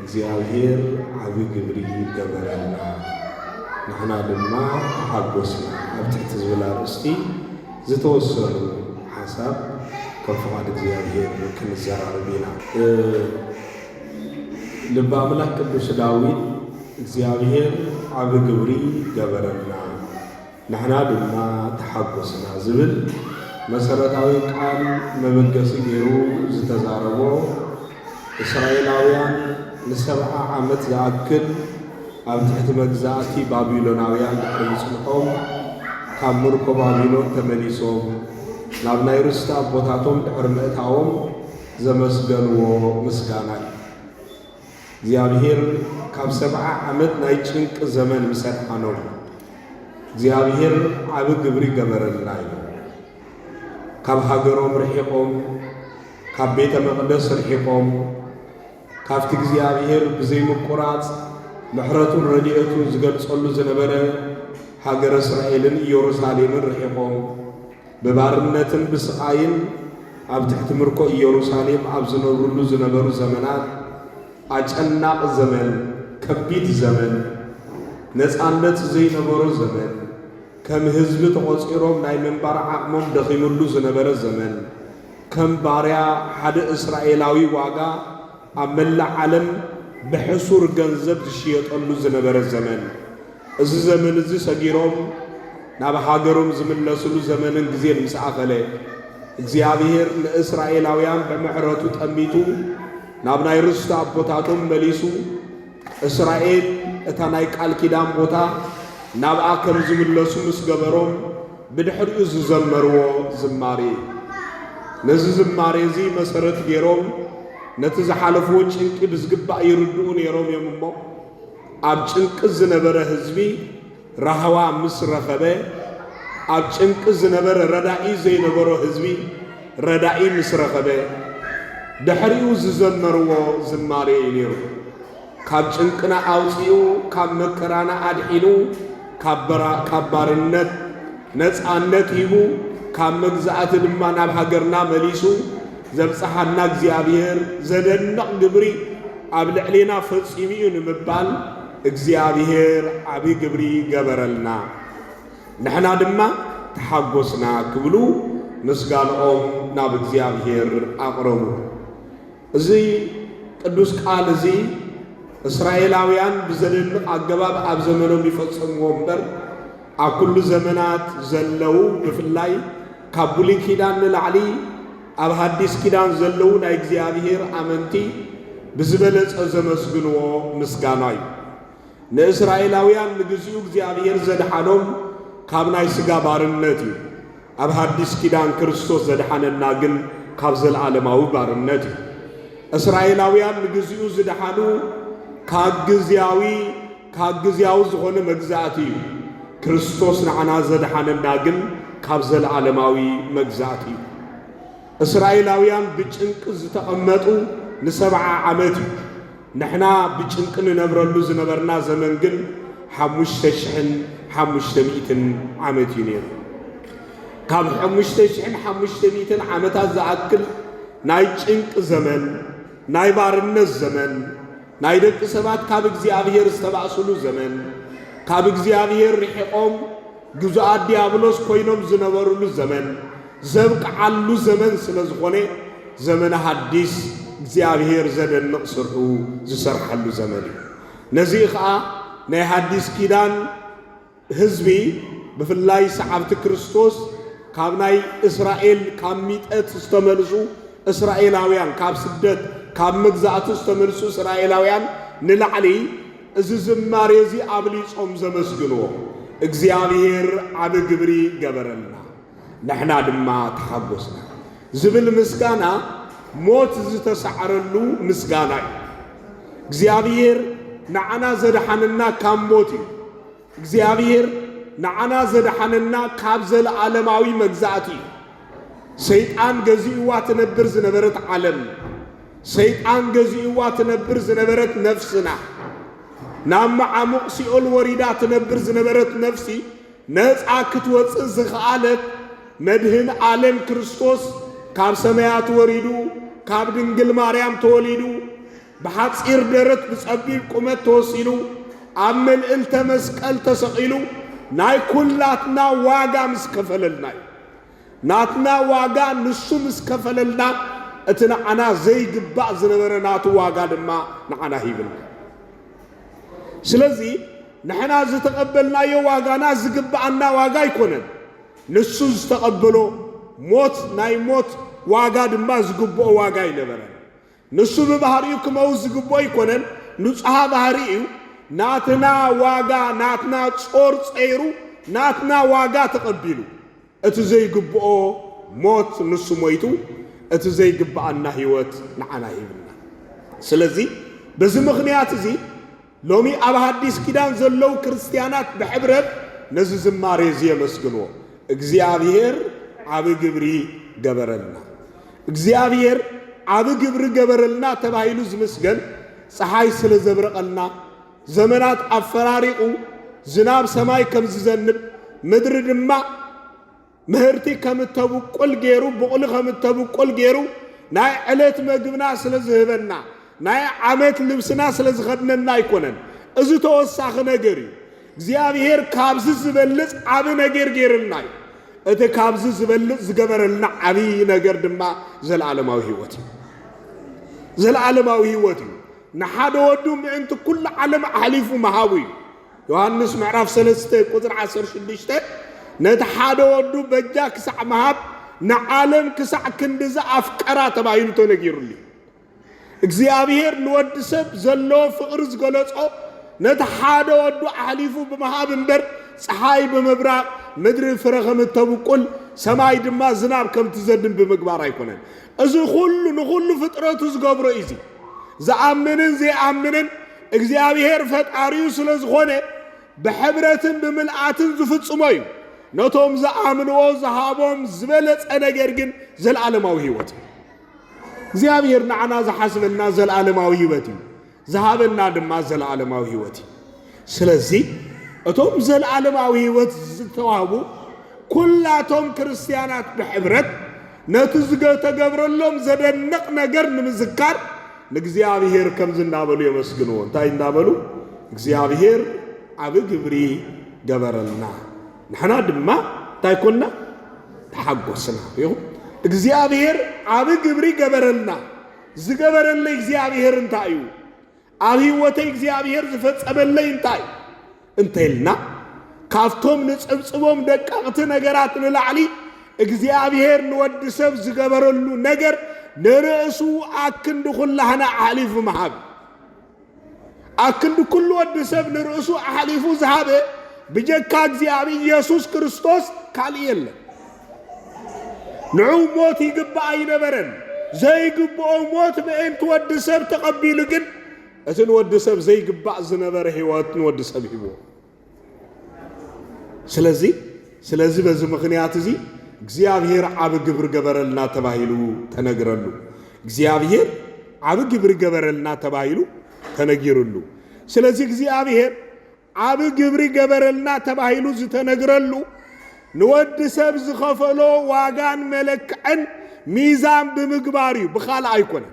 እግዚኣብሔር ዓቢ ግብሪ ገበረልና ንሕና ድማ ተሓጎስና ኣብ ትሕቲ ዝብል ኣርእስቲ ዝተወሰኑ ሓሳብ ከም ፍቓድ እግዚኣብሔር ክንዘራረብ ኢና። ልበ ኣምላክ ቅዱስ ዳዊት እግዚኣብሔር ዓቢ ግብሪ ገበረልና ንሕና ድማ ተሓጎስና ዝብል መሰረታዊ ቃል መበገሲ ገይሩ ዝተዛረቦ፣ እስራኤላውያን ንሰብዓ ዓመት ዝኣክል ኣብ ትሕቲ መግዛእቲ ባቢሎናውያን ድሕሪ ምጽንሖም፣ ካብ ምርኮ ባቢሎን ተመሊሶም ናብ ናይ ርስቲ ኣቦታቶም ድሕሪ ምእታዎም ዘመስገንዎ ምስጋና እዩ። እግዚኣብሄር ካብ ሰብዓ ዓመት ናይ ጭንቂ ዘመን ምስ ኣድሓኖም እግዚኣብሄር ዓቢ ግብሪ ገበረልና እዩ። ካብ ሃገሮም ርሒቆም ካብ ቤተ መቕደስ ርሒቆም ካብቲ እግዚኣብሄር ብዘይምቁራጽ ምሕረቱን ረድኤቱን ዝገልጸሉ ዝነበረ ሃገረ እስራኤልን ኢየሩሳሌምን ርሒቆም ብባርነትን ብስቓይን ኣብ ትሕቲ ምርኮ ኢየሩሳሌም ኣብ ዝነብርሉ ዝነበሩ ዘመናት፣ ኣጨናቒ ዘመን፣ ከቢድ ዘመን፣ ነጻነት ዘይነበሮ ዘመን፣ ከም ህዝቢ ተቖጺሮም ናይ ምንባር ዓቕሞም ደኺምሉ ዝነበረ ዘመን፣ ከም ባርያ ሓደ እስራኤላዊ ዋጋ ኣብ መላእ ዓለም ብሕሱር ገንዘብ ዝሽየጠሉ ዝነበረ ዘመን፣ እዚ ዘመን እዚ ሰጊሮም ናብ ሃገሮም ዝምለስሉ ዘመንን ግዜን ምስ ኣኸለ፣ እግዚኣብሔር ንእስራኤላውያን ብምሕረቱ ጠሚቱ ናብ ናይ ርስቲ ኣቦታቶም መሊሱ እስራኤል እታ ናይ ቃል ኪዳን ቦታ ናብኣ ከም ዝምለሱ ምስ ገበሮም ብድሕሪኡ ዝዘመርዎ ዝማሬ እዩ። ነዚ ዝማሬ እዚ መሰረት ገይሮም ነቲ ዝሓለፍዎ ጭንቂ ብዝግባእ ይርድኡ ነይሮም እዮም እሞ ኣብ ጭንቂ ዝነበረ ህዝቢ ራህዋ ምስ ረኸበ፣ ኣብ ጭንቂ ዝነበረ ረዳኢ ዘይነበሮ ህዝቢ ረዳኢ ምስ ረኸበ፣ ድሕሪኡ ዝዘመርዎ ዝማሬ እዩ ነይሩ። ካብ ጭንቅና ኣውጺኡ፣ ካብ መከራና ኣድሒኑ፣ ካብ ባርነት ነጻነት ሂቡ፣ ካብ መግዛእቲ ድማ ናብ ሃገርና መሊሱ ዘብጽሓና እግዚኣብሔር ዘደንቕ ግብሪ ኣብ ልዕሌና ፈጺሙ እዩ ንምባል እግዚኣብሔር ዓቢ ግብሪ ገበረልና ንሕና ድማ ተሓጎስና ክብሉ ምስጋንኦም ናብ እግዚኣብሔር ኣቕረቡ። እዚ ቅዱስ ቃል እዚ እስራኤላውያን ብዘደንቕ ኣገባብ ኣብ ዘመኖም ይፈጽምዎ እምበር ኣብ ኩሉ ዘመናት ዘለው ብፍላይ ካብ ብሉይ ኪዳን ንላዕሊ ኣብ ሃዲስ ኪዳን ዘለዉ ናይ እግዚኣብሄር ኣመንቲ ብዝበለጸ ዘመስግንዎ ምስጋና እዩ። ንእስራኤላውያን ንግዚኡ እግዚኣብሄር ዘድሓኖም ካብ ናይ ስጋ ባርነት እዩ። ኣብ ሃዲስ ኪዳን ክርስቶስ ዘድሓነና ግን ካብ ዘልኣለማዊ ባርነት እዩ። እስራኤላውያን ንግዚኡ ዝድሓኑ ካብ ግዝያዊ ካብ ግዝያዊ ዝኾነ መግዛእቲ እዩ። ክርስቶስ ንዓና ዘድሓነና ግን ካብ ዘለዓለማዊ መግዛእቲ እዩ። እስራኤላውያን ብጭንቂ ዝተቐመጡ ንሰብዓ ዓመት እዩ። ንሕና ብጭንቂ ንነብረሉ ዝነበርና ዘመን ግን ሓሙሽተ ሽሕን ሓሙሽተ ሚእትን ዓመት እዩ ነይሩ። ካብ ሓሙሽተ ሽሕን ሓሙሽተ ሚእትን ዓመታት ዝኣክል ናይ ጭንቂ ዘመን፣ ናይ ባርነት ዘመን ናይ ደቂ ሰባት ካብ እግዚኣብሔር ዝተባእሱሉ ዘመን፣ ካብ እግዚኣብሔር ርሒቆም ግዙኣት ዲያብሎስ ኮይኖም ዝነበሩሉ ዘመን ዘብቅዓሉ ዘመን ስለ ዝኾነ ዘመነ ሐዲስ እግዚኣብሔር ዘደንቕ ስርሑ ዝሰርሓሉ ዘመን እዩ። ነዚ ኸኣ ናይ ሐዲስ ኪዳን ህዝቢ ብፍላይ ሰዓብቲ ክርስቶስ ካብ ናይ እስራኤል ካብ ሚጠት ዝተመልሱ እስራኤላውያን ካብ ስደት ካብ መግዛእቲ ዝተመልሱ እስራኤላውያን ንላዕሊ እዚ ዝማሬ እዚ ኣብሊጾም ዘመስግንዎ እግዚኣብሔር ዓቢ ግብሪ ገበረልና። ንሕና ድማ ተሓጐስና ዝብል ምስጋና ሞት ዝተሳዕረሉ ምስጋና እዩ። እግዚኣብሔር ንዓና ዘድሓነና ካብ ሞት እዩ። እግዚኣብሔር ንዓና ዘድሓነና ካብ ዘለዓለማዊ መግዛእቲ እዩ። ሰይጣን ገዚእዋ ትነብር ዝነበረት ዓለም፣ ሰይጣን ገዚእዋ ትነብር ዝነበረት ነፍስና፣ ናብ መዓሙቕ ሲኦል ወሪዳ ትነብር ዝነበረት ነፍሲ ነጻ ክትወጽእ ዝኸኣለት መድህን ኣለም ክርስቶስ ካብ ሰማያት ወሪዱ ካብ ድንግል ማርያም ተወሊዱ ብሓጺር ደረት ብጸቢብ ቁመት ተወሲኑ ኣብ መልእልተ መስቀል ተሰቒሉ ናይ ኩላትና ዋጋ ምስ ከፈለልና እዩ። ናትና ዋጋ ንሱ ምስ ከፈለልና እቲ ንዓና ዘይግባእ ዝነበረ ናቱ ዋጋ ድማ ንዓና ሂብና። ስለዚ ንሕና ዝተቐበልናዮ ዋጋና ዝግብኣና ዋጋ ኣይኮነን። ንሱ ዝተቐበሎ ሞት ናይ ሞት ዋጋ ድማ ዝግብኦ ዋጋ ኣይነበረን። ንሱ ብባህሪኡ ክመውት ዝግብኦ ኣይኮነን፣ ንጹሃ ባህሪ እዩ። ናትና ዋጋ ናትና ጾር ጸይሩ ናትና ዋጋ ተቐቢሉ። እቲ ዘይግብኦ ሞት ንሱ ሞይቱ እቲ ዘይግብኣና ህይወት ንዓና ሂብና። ስለዚ በዚ ምኽንያት እዚ ሎሚ ኣብ ሃዲስ ኪዳን ዘለዉ ክርስትያናት ብሕብረት ነዚ ዝማሬ እዚ የመስግንዎ። እግዚኣብሔር ዓቢ ግብሪ ገበረልና። እግዚኣብሔር ዓቢ ግብሪ ገበረልና ተባሂሉ ዝምስገን ፀሓይ ስለ ዘብረቐልና ዘመናት ኣፈራሪቑ ዝናብ ሰማይ ከም ዝዘንብ ምድሪ ድማ ምህርቲ ከም እተብቁል ገይሩ ብቑሊ ከም እተብቁል ገይሩ ናይ ዕለት መግብና ስለ ዝህበና ናይ ዓመት ልብስና ስለ ዝኸድነና ኣይኮነን። እዚ ተወሳኺ ነገር እዩ። እግዚኣብሔር ካብዚ ዝበልጽ ዓብ ነገር ገይርልና እዩ። እቲ ካብዚ ዝበልጽ ዝገበረልና ዓብዪ ነገር ድማ ዘለዓለማዊ ህይወት እዩ። ዘለዓለማዊ ህይወት እዩ። ንሓደ ወዱ ምእንቲ ኩሉ ዓለም ኣሕሊፉ ምሃቡ እዩ። ዮሃንስ ምዕራፍ ሰለስተ ቁፅሪ ዓሰርተ ሽዱሽተ ነቲ ሓደ ወዱ በጃ ክሳዕ ምሃብ ንዓለም ክሳዕ ክንዲ ዝኣፍቀራ ተባሂሉ ተነጊሩሉ እዩ። እግዚኣብሔር ንወዲ ሰብ ዘለዎ ፍቕሪ ዝገለጾ ነቲ ሓደ ወዱ ኣሕሊፉ ብምሃብ እምበር ፀሓይ ብምብራቕ ምድሪ ፍረ ከም እተብቁል ሰማይ ድማ ዝናብ ከም ትዘድን ብምግባር ኣይኮነን። እዚ ኩሉ ንኹሉ ፍጥረቱ ዝገብሮ እዩ። ዝኣምንን ዘይኣምንን እግዚኣብሔር ፈጣሪኡ ስለ ዝኾነ ብሕብረትን ብምልኣትን ዝፍጽሞ እዩ። ነቶም ዝኣምንዎ ዝሃቦም ዝበለጸ ነገር ግን ዘለዓለማዊ ህይወት እዩ። እግዚኣብሔር ንዓና ዝሓስበና ዘለዓለማዊ ህይወት እዩ። ዝሃበና ድማ ዘለዓለማዊ ህይወት እዩ። ስለዚ እቶም ዘለዓለማዊ ህይወት ዝተዋህቡ ኩላቶም ክርስትያናት ብሕብረት ነቲ ዝተገብረሎም ዘደንቕ ነገር ንምዝካር ንእግዚኣብሔር ከምዚ እናበሉ የመስግንዎ። እንታይ እናበሉ? እግዚኣብሔር ዓቢ ግብሪ ገበረልና፣ ንሕና ድማ እንታይ ኮና? ተሓጎስና። ይኹ እግዚኣብሔር ዓቢ ግብሪ ገበረልና። ዝገበረለይ እግዚኣብሔር እንታይ እዩ? ኣብ ህይወተይ እግዚኣብሔር ዝፈጸመለይ እንታይ እዩ እንተይልና ካብቶም ንጽብጽቦም ደቀቕቲ ነገራት ንላዕሊ እግዚኣብሔር ንወዲ ሰብ ዝገበረሉ ነገር ንርእሱ ኣክንዲ ኩላህና ኣሕሊፉ ምሃብ ኣክንዲ ኩሉ ወዲ ሰብ ንርእሱ ኣሕሊፉ ዝሃበ ብጀካ እግዚኣብሔር ኢየሱስ ክርስቶስ ካልእ የለን። ንዑ ሞት ይግባእ ኣይነበረን ዘይግብኦ ሞት ምእንቲ ወዲ ሰብ ተቐቢሉ ግን እቲ ንወዲ ሰብ ዘይግባእ ዝነበረ ህይወት ንወዲ ሰብ ሂቦ ስለዚ ስለዚ በዚ ምኽንያት እዚ እግዚኣብሔር ዓብ ግብሪ ገበረልና ተባሂሉ ተነግረሉ እግዚኣብሔር ዓብ ግብሪ ገበረልና ተባሂሉ ተነጊሩሉ ስለዚ እግዚኣብሔር ዓቢ ግብሪ ገበረልና ተባሂሉ ዝተነግረሉ ንወዲ ሰብ ዝኸፈሎ ዋጋን መለክዕን ሚዛን ብምግባር እዩ፣ ብኻልእ ኣይኮነን።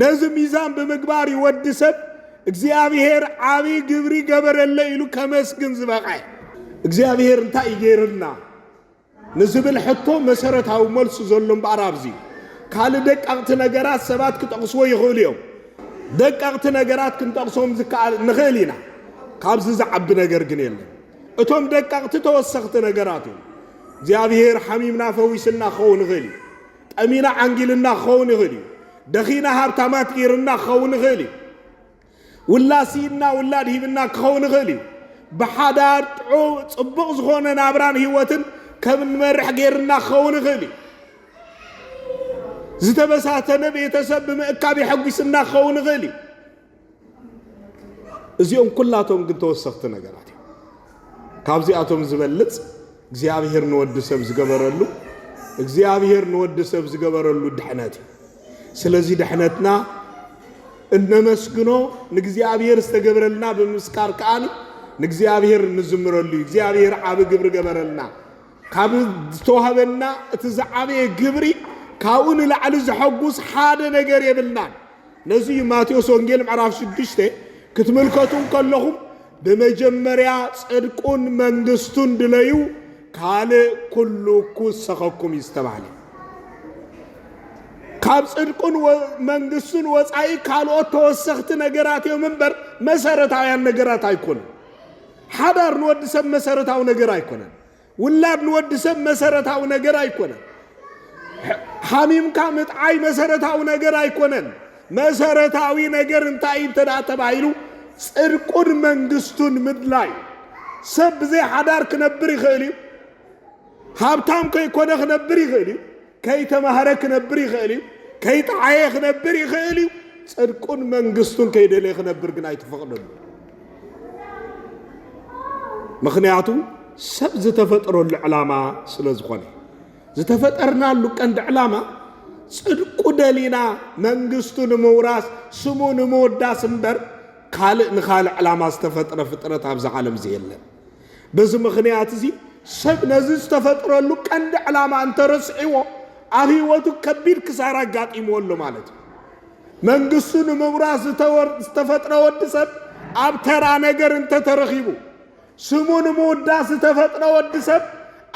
ነዚ ሚዛን ብምግባር እዩ ወዲ ሰብ እግዚኣብሔር ዓቢ ግብሪ ገበረለ ኢሉ ከመስግን ዝበቐ። እግዚኣብሔር እንታይ ይገይርልና? ንዝብል ሕቶ መሰረታዊ መልሱ ዘሎ እምበኣር ኣብዚ እዩ። ካልእ ደቀቕቲ ነገራት ሰባት ክጠቕስዎ ይኽእሉ እዮም። ደቀቕቲ ነገራት ክንጠቕሶም ዝከኣል ንኽእል ኢና። ካብዚ ዝዓቢ ነገር ግን የለን። እቶም ደቀቕቲ ተወሰኽቲ ነገራት እዮም። እግዚኣብሄር ሓሚምና ፈዊስና ክኸውን ይኽእል እዩ። ጠሚና ዓንጊልና ክኸውን ይኽእል እዩ። ደኺና ሃብታማት ገይርና ክኸውን ይኽእል እዩ። ውላድ ስኢንና ውላድ ሂብና ክኸውን ይኽእል እዩ። ብሓዳር ጥዑ ጽቡቕ ዝኾነ ናብራን ህይወትን ከም እንመርሕ ጌርና ክኸውን ይኽእል እዩ። ዝተበታተነ ቤተሰብ ብምእካብ የሐጒስና ክኸውን ይኽእል እዩ። እዚኦም ኩላቶም ግን ተወሰኽቲ ነገራት እዮም። ካብዚኣቶም ዝበልጽ እግዚኣብሔር ንወዲ ሰብ ዝገበረሉ እግዚኣብሔር ንወዲ ሰብ ዝገበረሉ ድሕነት እዩ። ስለዚ ድሕነትና እነመስግኖ ንእግዚኣብሔር ዝተገብረልና ብምምስካር ከኣ ንእግዚኣብሔር እንዝምረሉ እዩ። እግዚኣብሔር ዓብ ግብሪ ገበረልና። ካብ ዝተዋህበና እቲ ዝዓበየ ግብሪ ካብኡ ንላዕሊ ዘሐጉስ ሓደ ነገር የብልናን። ነዚ እዩ ማቴዎስ ወንጌል ምዕራፍ ሽዱሽተ ክትምልከቱ ከለኹም ብመጀመርያ ጽድቁን መንግስቱን ድለዩ ካልእ ኩሉ ክውሰኸኩም እዩ ዝተባህለ ካብ ጽድቁን መንግስቱን ወጻኢ ካልኦት ተወሰኽቲ ነገራት እዮም እምበር መሰረታውያን ነገራት ኣይኮኑ። ሓዳር ንወዲ ሰብ መሰረታዊ ነገር ኣይኮነን። ውላድ ንወዲ ሰብ መሰረታዊ ነገር ኣይኮነን። ሓሚምካ ምጥዓይ መሰረታዊ ነገር ኣይኮነን። መሰረታዊ ነገር እንታይ እዩ እንተ ደኣ ተባሂሉ፣ ጽድቁን መንግስቱን ምድላይ እዩ። ሰብ ብዘይ ሓዳር ክነብር ይኽእል እዩ። ሃብታም ከይኮነ ክነብር ይኽእል እዩ። ከይተማህረ ክነብር ይኽእል እዩ። ከይጠዓየ ክነብር ይኽእል እዩ። ጽድቁን መንግስቱን ከይደለየ ክነብር ግን ኣይተፈቕደሉ። ምኽንያቱ ሰብ ዝተፈጥረሉ ዕላማ ስለ ዝኾነ ዝተፈጠርናሉ ቀንዲ ዕላማ ጽድቁ ደሊና መንግስቱ ንምውራስ ስሙ ንምውዳስ እምበር ካልእ ንኻልእ ዕላማ ዝተፈጥረ ፍጥረት ኣብዚ ዓለም እዚ የለን። በዚ ምኽንያት እዚ ሰብ ነዚ ዝተፈጥረሉ ቀንዲ ዕላማ እንተረስዒዎ ኣብ ህይወቱ ከቢድ ክሳራ ኣጋጢምዎ ኣሎ ማለት እዩ። መንግስቱ ንምውራስ ዝተፈጥረ ወዲ ሰብ ኣብ ተራ ነገር እንተተረኺቡ ስሙ ንምውዳስ ዝተፈጥረ ወዲ ሰብ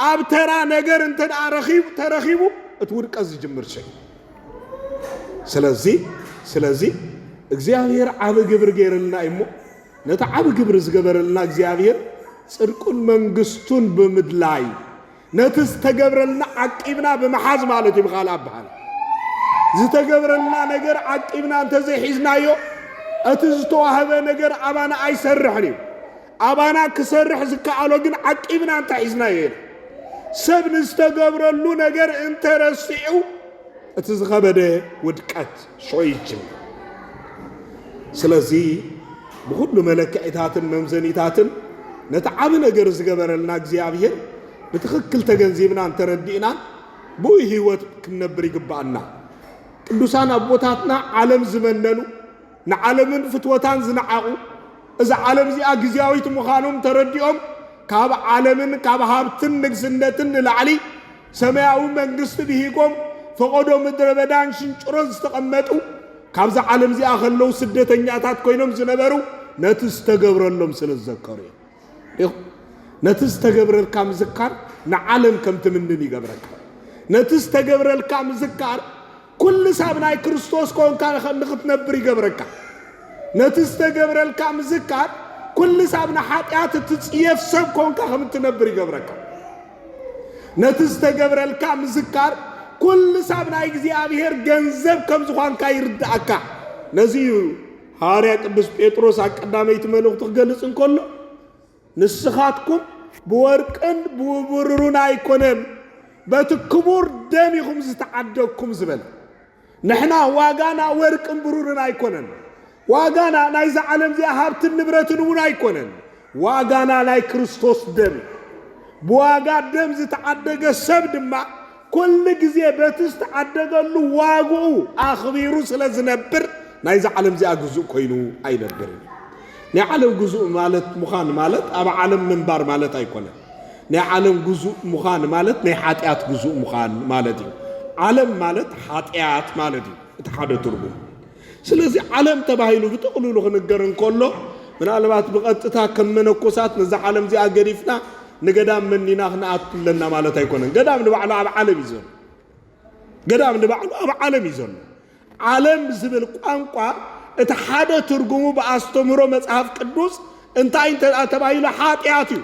ኣብ ተራ ነገር እንተ ረኺቡ ተረኺቡ እቲ ውድቀት ዝጅምር ሸይ ስለዚ ስለዚ እግዚኣብሔር ዓብ ግብሪ ገይርልና እዩሞ ነቲ ዓብ ግብሪ ዝገበረልና እግዚኣብሔር ጽድቁን መንግስቱን ብምድላይ ነቲ ዝተገብረልና ዓቂብና ብምሓዝ ማለት እዩ ብኻልእ ኣበሃላ ዝተገብረልና ነገር ዓቂብና እንተዘይሒዝናዮ እቲ ዝተዋህበ ነገር ኣባና ኣይሰርሕን እዩ ኣባና ክሰርሕ ዝከኣሎ ግን ዓቂብና እንተሒዝናዮ ኢና ሰብ ንዝተገብረሉ ነገር እንተረሲዑ እቲ ዝኸበደ ውድቀት ሽዑ ይጅምር። ስለዚ ብኹሉ መለክዒታትን መምዘኒታትን ነቲ ዓቢ ነገር ዝገበረልና እግዚኣብሔር ብትኽክል ተገንዚብናን ተረዲእናን ብኡ ህይወት ክንነብር ይግባኣና። ቅዱሳን ኣቦታትና ዓለም ዝመነኑ ንዓለምን ፍትወታን ዝነዓቑ እዛ ዓለም እዚኣ ግዜያዊት ምዃኖም ተረዲኦም ካብ ዓለምን ካብ ሃብትን ንግስነትን ንላዕሊ ሰማያዊ መንግስቲ ብሂጎም ፈቐዶ ምድረ በዳን ሽንጭሮን ዝተቐመጡ ካብዛ ዓለም እዚኣ ከለዉ ስደተኛታት ኮይኖም ዝነበሩ ነቲ ዝተገብረሎም ስለ ዝዘከሩ እዮም ነቲ ዝተገብረልካ ምዝካር ንዓለም ከም ትምንን ይገብረካ ነቲ ዝተገብረልካ ምዝካር ኩልስ ኣብ ናይ ክርስቶስ ኮንካ ንክትነብር ይገብረካ። ነቲ ዝተገብረልካ ምዝካር ኩልስ ኣብ ንሓጢኣት እትጽየፍ ሰብ ኮንካ ከም እትነብር ይገብረካ። ነቲ ዝተገብረልካ ምዝካር ኩልስ ኣብ ናይ እግዚኣብሔር ገንዘብ ከም ዝኳንካ ይርድኣካ። ነዚ እዩ ሃዋርያ ቅዱስ ጴጥሮስ ኣብ ቀዳመይቲ መልእኽቱ ክገልጽ እንከሎ ንስኻትኩም ብወርቅን ብውብርሩን ኣይኮነን በቲ ክቡር ደም ኢኹም ዝተዓደግኩም ዝበለ ንሕና ዋጋና ወርቅን ብሩርን ኣይኮነን ዋጋና ናይዛ ዓለም እዚኣ ሃብትን ንብረትን እውን ኣይኮነን ዋጋና ናይ ክርስቶስ ደም እዩ ብዋጋ ደም ዝተዓደገ ሰብ ድማ ኩሉ ግዜ በቲ ዝተዓደገሉ ዋግኡ ኣኽቢሩ ስለ ዝነብር ናይዛ ዓለም እዚኣ ግዙእ ኮይኑ ኣይነብርን እዩ። ናይ ዓለም ግዙእ ማለት ምዃን ማለት ኣብ ዓለም ምንባር ማለት ኣይኮነን። ናይ ዓለም ግዙእ ምዃን ማለት ናይ ሓጢኣት ግዙእ ምዃን ማለት እዩ። ዓለም ማለት ሓጢኣት ማለት እዩ እቲ ሓደ ትርጉም። ስለዚ ዓለም ተባሂሉ ብጥቕሉሉ ክንገር እንከሎ ምናልባት ብቐጥታ ከም መነኮሳት ነዛ ዓለም እዚኣ ገዲፍና ንገዳም መኒና ክንኣቱ ኣለና ማለት ኣይኮነን። ገዳም ንባዕሉ ኣብ ዓለም እዩ ዘሎ። ገዳም ንባዕሉ ኣብ ዓለም እዩ ዘሎ። ዓለም ዝብል ቋንቋ እቲ ሓደ ትርጉሙ ብኣስተምህሮ መጽሐፍ ቅዱስ እንታይ እንተ ተባሂሉ ሓጢኣት እዩ።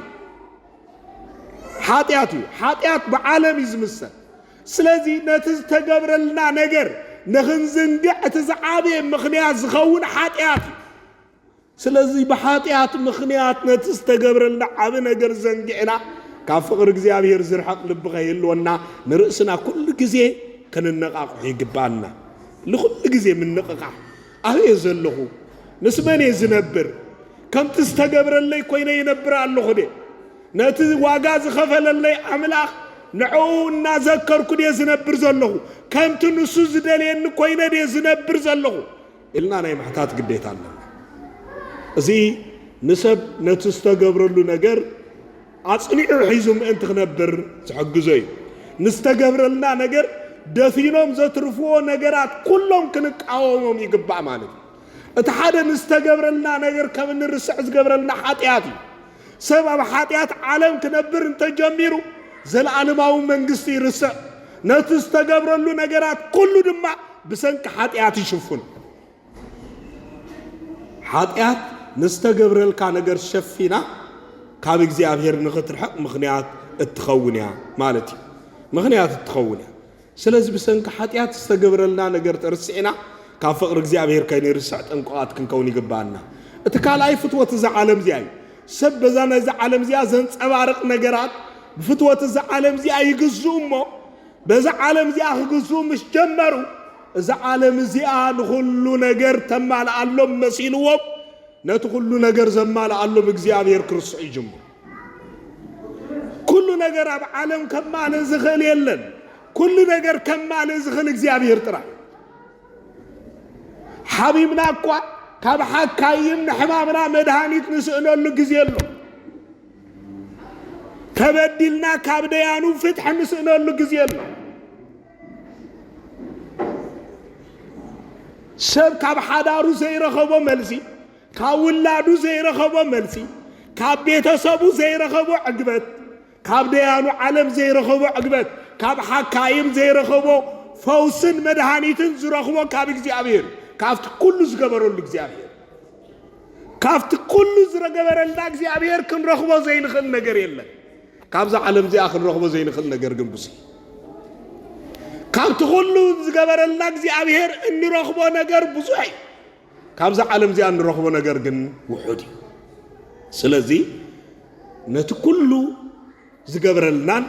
ሓጢኣት እዩ። ሓጢኣት ብዓለም እዩ ዝምሰል። ስለዚ ነቲ ዝተገብረልና ነገር ንኽንዝንግዕ እቲ ዝዓበየ ምኽንያት ዝኸውን ሓጢኣት እዩ። ስለዚ ብሓጢኣት ምኽንያት ነቲ ዝተገብረልና ዓቢ ነገር ዘንጊዕና ካብ ፍቕሪ እግዚኣብሔር ዝርሕቕ ልቢ ከይህልወና ንርእስና ኩሉ ግዜ ከነነቓቕሖ ይግብኣና። ንኹሉ ግዜ ምንቕቓሕ ኣበይ እየ ዘለኹ? ምስ መን እየ ዝነብር? ከምቲ ዝተገብረለይ ኮይነ ይነብር ኣለኹ ደ? ነቲ ዋጋ ዝኸፈለለይ ኣምላኽ ንዕኡ እናዘከርኩ ድየ ዝነብር ዘለኹ? ከምቲ ንሱ ዝደልየኒ ኮይነ ድየ ዝነብር ዘለኹ? ኢልና ናይ ምሕታት ግዴታ ኣለና። እዚ ንሰብ ነቲ ዝተገብረሉ ነገር ኣጽኒዑ ሒዙ ምእንቲ ክነብር ዝሕግዞ እዩ። ንዝተገብረልና ነገር ደፊኖም ዘትርፍዎ ነገራት ኩሎም ክንቃወሞም ይግባእ ማለት እዩ። እቲ ሓደ ንዝተገብረልና ነገር ከም እንርስዕ ዝገብረልና ሓጢኣት እዩ። ሰብ ኣብ ሓጢኣት ዓለም ክነብር እንተ ጀሚሩ፣ ዘለኣለማዊ መንግስቲ ይርስዕ፣ ነቲ ዝተገብረሉ ነገራት ኩሉ ድማ ብሰንኪ ሓጢኣት ይሽፍኑ። ሓጢኣት ንዝተገብረልካ ነገር ሸፊና ካብ እግዚኣብሔር ንኽትርሕቕ ምኽንያት እትኸውን እያ ማለት እዩ። ምኽንያት እትኸውን እያ። ስለዚ ብሰንኪ ሓጢኣት ዝተገብረልና ነገር ተርሲዕና ካብ ፍቕሪ እግዚኣብሔር ከይንርስዕ ጥንቁቓት ክንከውን ይግብኣና። እቲ ካልኣይ ፍትወት እዛ ዓለም እዚኣ እዩ። ሰብ በዛ ናይዛ ዓለም እዚኣ ዘንጸባርቕ ነገራት ብፍትወት እዛ ዓለም እዚኣ ይግዝኡ እሞ በዛ ዓለም እዚኣ ክግዝኡ ምስ ጀመሩ እዛ ዓለም እዚኣ ንኹሉ ነገር ተማልኣሎም መሲልዎም ነቲ ኩሉ ነገር ዘማልኣሎም እግዚኣብሔር ክርስዑ ይጅምሩ። ኩሉ ነገር ኣብ ዓለም ከማልእ ዝኽእል የለን። ኩሉ ነገር ከማልእ ዝኽእል እግዚኣብሔር ጥራይ። ሓቢብና እኳ ካብ ሓካይም ንሕማምና መድሃኒት ንስእነሉ ግዜ ኣሎ። ተበዲልና ካብ ደያኑ ፍትሒ ንስእነሉ ግዜ ኣሎ። ሰብ ካብ ሓዳሩ ዘይረኸቦ መልሲ ካብ ውላዱ ዘይረኸቦ መልሲ፣ ካብ ቤተሰቡ ዘይረኸቦ ዕግበት፣ ካብ ደያኑ ዓለም ዘይረኸቦ ዕግበት፣ ካብ ሓካይም ዘይረኸቦ ፈውስን መድሃኒትን ዝረኽቦ ካብ እግዚኣብሔር እዩ። ካብቲ ኩሉ ዝገበረሉ እግዚኣብሔር ካብቲ ኩሉ ዝገበረልና እግዚኣብሔር ክንረኽቦ ዘይንኽእል ነገር የለን። ካብዛ ዓለም እዚኣ ክንረኽቦ ዘይንኽእል ነገር ግን ብዙ ካብቲ ኩሉ ዝገበረልና እግዚኣብሔር እንረኽቦ ነገር ብዙሕ እዩ። ካብዛ ዓለም እዚኣ እንረኽቦ ነገር ግን ውሑድ እዩ። ስለዚ ነቲ ኩሉ ዝገብረልናን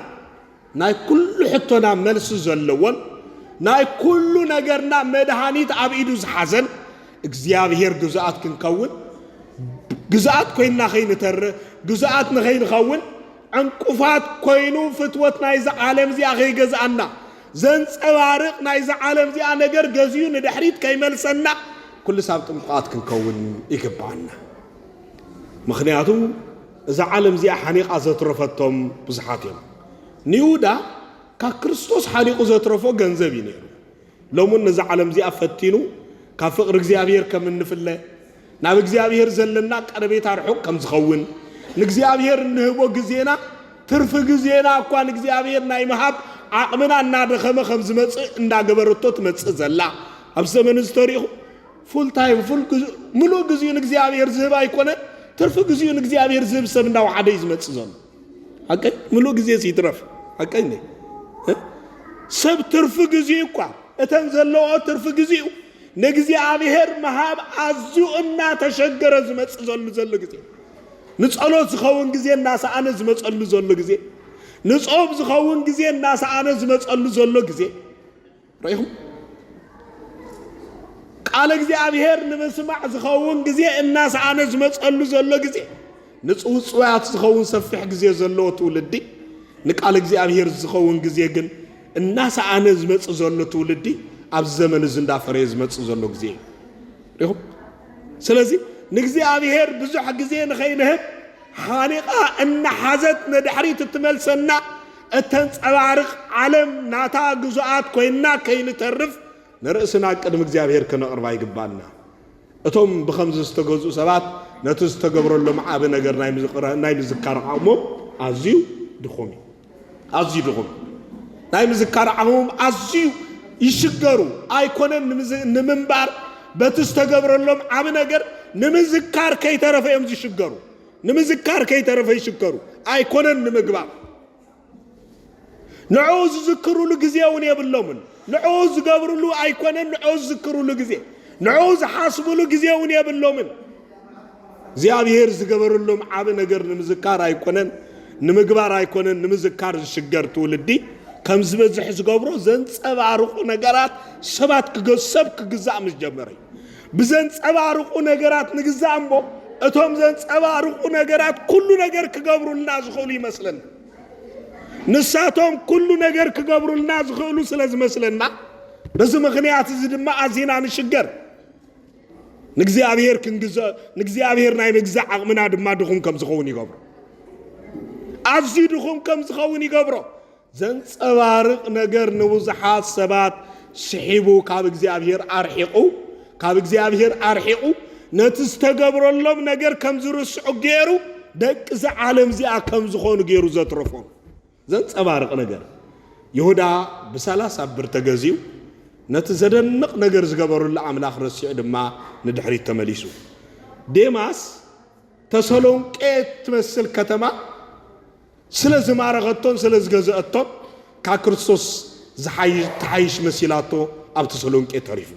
ናይ ኩሉ ሕቶና መልሲ ዘለዎን ናይ ኩሉ ነገርና መድሃኒት ኣብ ኢዱ ዝሓዘን እግዚኣብሔር ግዙኣት ክንከውን ግዙኣት ኮይንና ከይንተርፍ ግዙኣት ንኸይንኸውን ዕንቁፋት ኮይኑ ፍትወት ናይዚ ዓለም እዚኣ ከይገዝኣና ዘንጸባርቕ ናይዛ ዓለም እዚኣ ነገር ገዚኡ ንድሕሪት ከይመልሰና ኩሉ ሳብ ጥንቁቓት ክንከውን ይግብኣና። ምኽንያቱ እዛ ዓለም እዚኣ ሓኒቓ ዘትረፈቶም ብዙሓት እዮም። ንይሁዳ ካብ ክርስቶስ ሓኒቑ ዘትረፎ ገንዘብ እዩ ነይሩ። ሎምን ነዛ ዓለም እዚኣ ፈቲኑ ካብ ፍቕሪ እግዚኣብሔር ከም እንፍለ ናብ እግዚኣብሄር ዘለና ቀረቤታ ርሑቕ ከም ዝኸውን፣ ንእግዚኣብሄር እንህቦ ግዜና፣ ትርፊ ግዜና እኳ ንእግዚኣብሄር ናይ ምሃብ ዓቕምና እናደኸመ ከም ዝመጽእ እንዳገበረቶ ትመጽእ ዘላ ኣብዚ ዘመን እዚ ተሪኹ ፉል ታይም ፉል ምሉእ ግዜኡ ንእግዚኣብሄር ዝህብ ኣይኮነን ትርፊ ግዜኡ ንእግዚኣብሄር ዝህብ ሰብ እንዳወሓደ እዩ ዝመጽእ ዘሎ ሓቀኝ ምሉእ ግዜ ይትረፍ ሓቀኝ ሰብ ትርፊ ግዜ እኳ እተን ዘለዎ ትርፊ ግዜኡ ንእግዚኣብሔር ምሃብ ኣዝዩ እናተሸገረ ዝመጽዘሉ ዘሎ ግዜ፣ ንጸሎት ዝኸውን ግዜ እናሰኣነ ዝመጸሉ ዘሎ ግዜ፣ ንጾም ዝኸውን ግዜ እናሰኣነ ዝመጸሉ ዘሎ ግዜ ርኢኹም። ቃል እግዚኣብሔር ንምስማዕ ዝኸውን ግዜ እናሰኣነ ዝመጸሉ ዘሎ ግዜ፣ ንጽውጽዋያት ዝኸውን ሰፊሕ ግዜ ዘለዎ ትውልዲ ንቃል እግዚኣብሔር ዝኸውን ግዜ ግን እናሰኣነ ዝመጽእ ዘሎ ትውልዲ ኣብዚ ዘመን እዚ እንዳፈረየ ዝመጽእ ዘሎ ግዜ እዩ ሪኹም ስለዚ ንእግዚኣብሔር ብዙሕ ግዜ ንኸይንህብ ሓኒቓ እናሓዘት ንድሕሪት እትመልሰና እተንጸባርቕ ዓለም ናታ ግዙኣት ኮይና ከይንተርፍ ንርእስና ቅድሚ እግዚኣብሔር ከነቕርባ ይግባና እቶም ብኸምዚ ዝተገዝኡ ሰባት ነቲ ዝተገብረሎም ዓቢ ነገር ናይ ምዝካር ዓቕሞም ኣዝዩ ድኹም እዩ። ኣዝዩ ድኹም ናይ ምዝካር ዓቕሞም ኣዝዩ ይሽገሩ። ኣይኮነን ንምንባር በቲ ዝተገብረሎም ዓቢ ነገር ንምዝካር ከይተረፈ እዮም ዝሽገሩ። ንምዝካር ከይተረፈ ይሽገሩ። ኣይኮነን ንምግባር ንዕኡ ዝዝክሩሉ ግዜ እውን የብሎምን። ንዕኡ ዝገብርሉ ኣይኮነን ንዕኡ ዝዝክሩሉ ግዜ፣ ንዕኡ ዝሓስቡሉ ግዜ እውን የብሎምን። እግዚኣብሔር ዝገበረሎም ዓቢ ነገር ንምዝካር ኣይኮነን ንምግባር ኣይኮነን ንምዝካር ዝሽገር ትውልዲ ከም ዝበዝሕ ዝገብሮ ዘንጸባርቑ ነገራት ሰባት ክገ- ሰብ ክግዛእ ምስ ጀመረ እዩ። ብዘንጸባርቑ ነገራት ንግዛእ እምቦ እቶም ዘንጸባርቑ ነገራት ኩሉ ነገር ክገብሩልና ዝኽእሉ ይመስለና። ንሳቶም ኩሉ ነገር ክገብሩልና ዝኽእሉ ስለ ዝመስለና በዚ ምኽንያት እዚ ድማ ኣዚና ንሽገር። ንእግዚኣብሔር ክንግዛእ ንእግዚኣብሔር ናይ ምግዛእ ዓቕምና ድማ ድኹም ከም ዝኸውን ይገብሮ። ኣዝዩ ድኹም ከም ዝኸውን ይገብሮ። ዘንጸባርቕ ነገር ንብዙሓት ሰባት ስሒቡ ካብ እግዚኣብሔር ኣርሒቑ ካብ እግዚኣብሔር ኣርሒቑ ነቲ ዝተገብረሎም ነገር ከም ዝርስዑ ገይሩ ደቂ እዚ ዓለም እዚኣ ከም ዝኾኑ ገይሩ ዘትረፎም ዘንጸባርቕ ነገር ይሁዳ ብሰላሳ ብር ተገዚኡ ነቲ ዘደንቕ ነገር ዝገበሩሉ ኣምላኽ ረሲዑ ድማ ንድሕሪት ተመሊሱ ዴማስ ተሰሎንቄ ትመስል ከተማ ስለ ዝማረኸቶን ስለ ዝገዘኣቶን ካብ ክርስቶስ ዝሓይሽ ትሓይሽ መሲላቶ ኣብ ተሰሎንቄ ተሪፉ።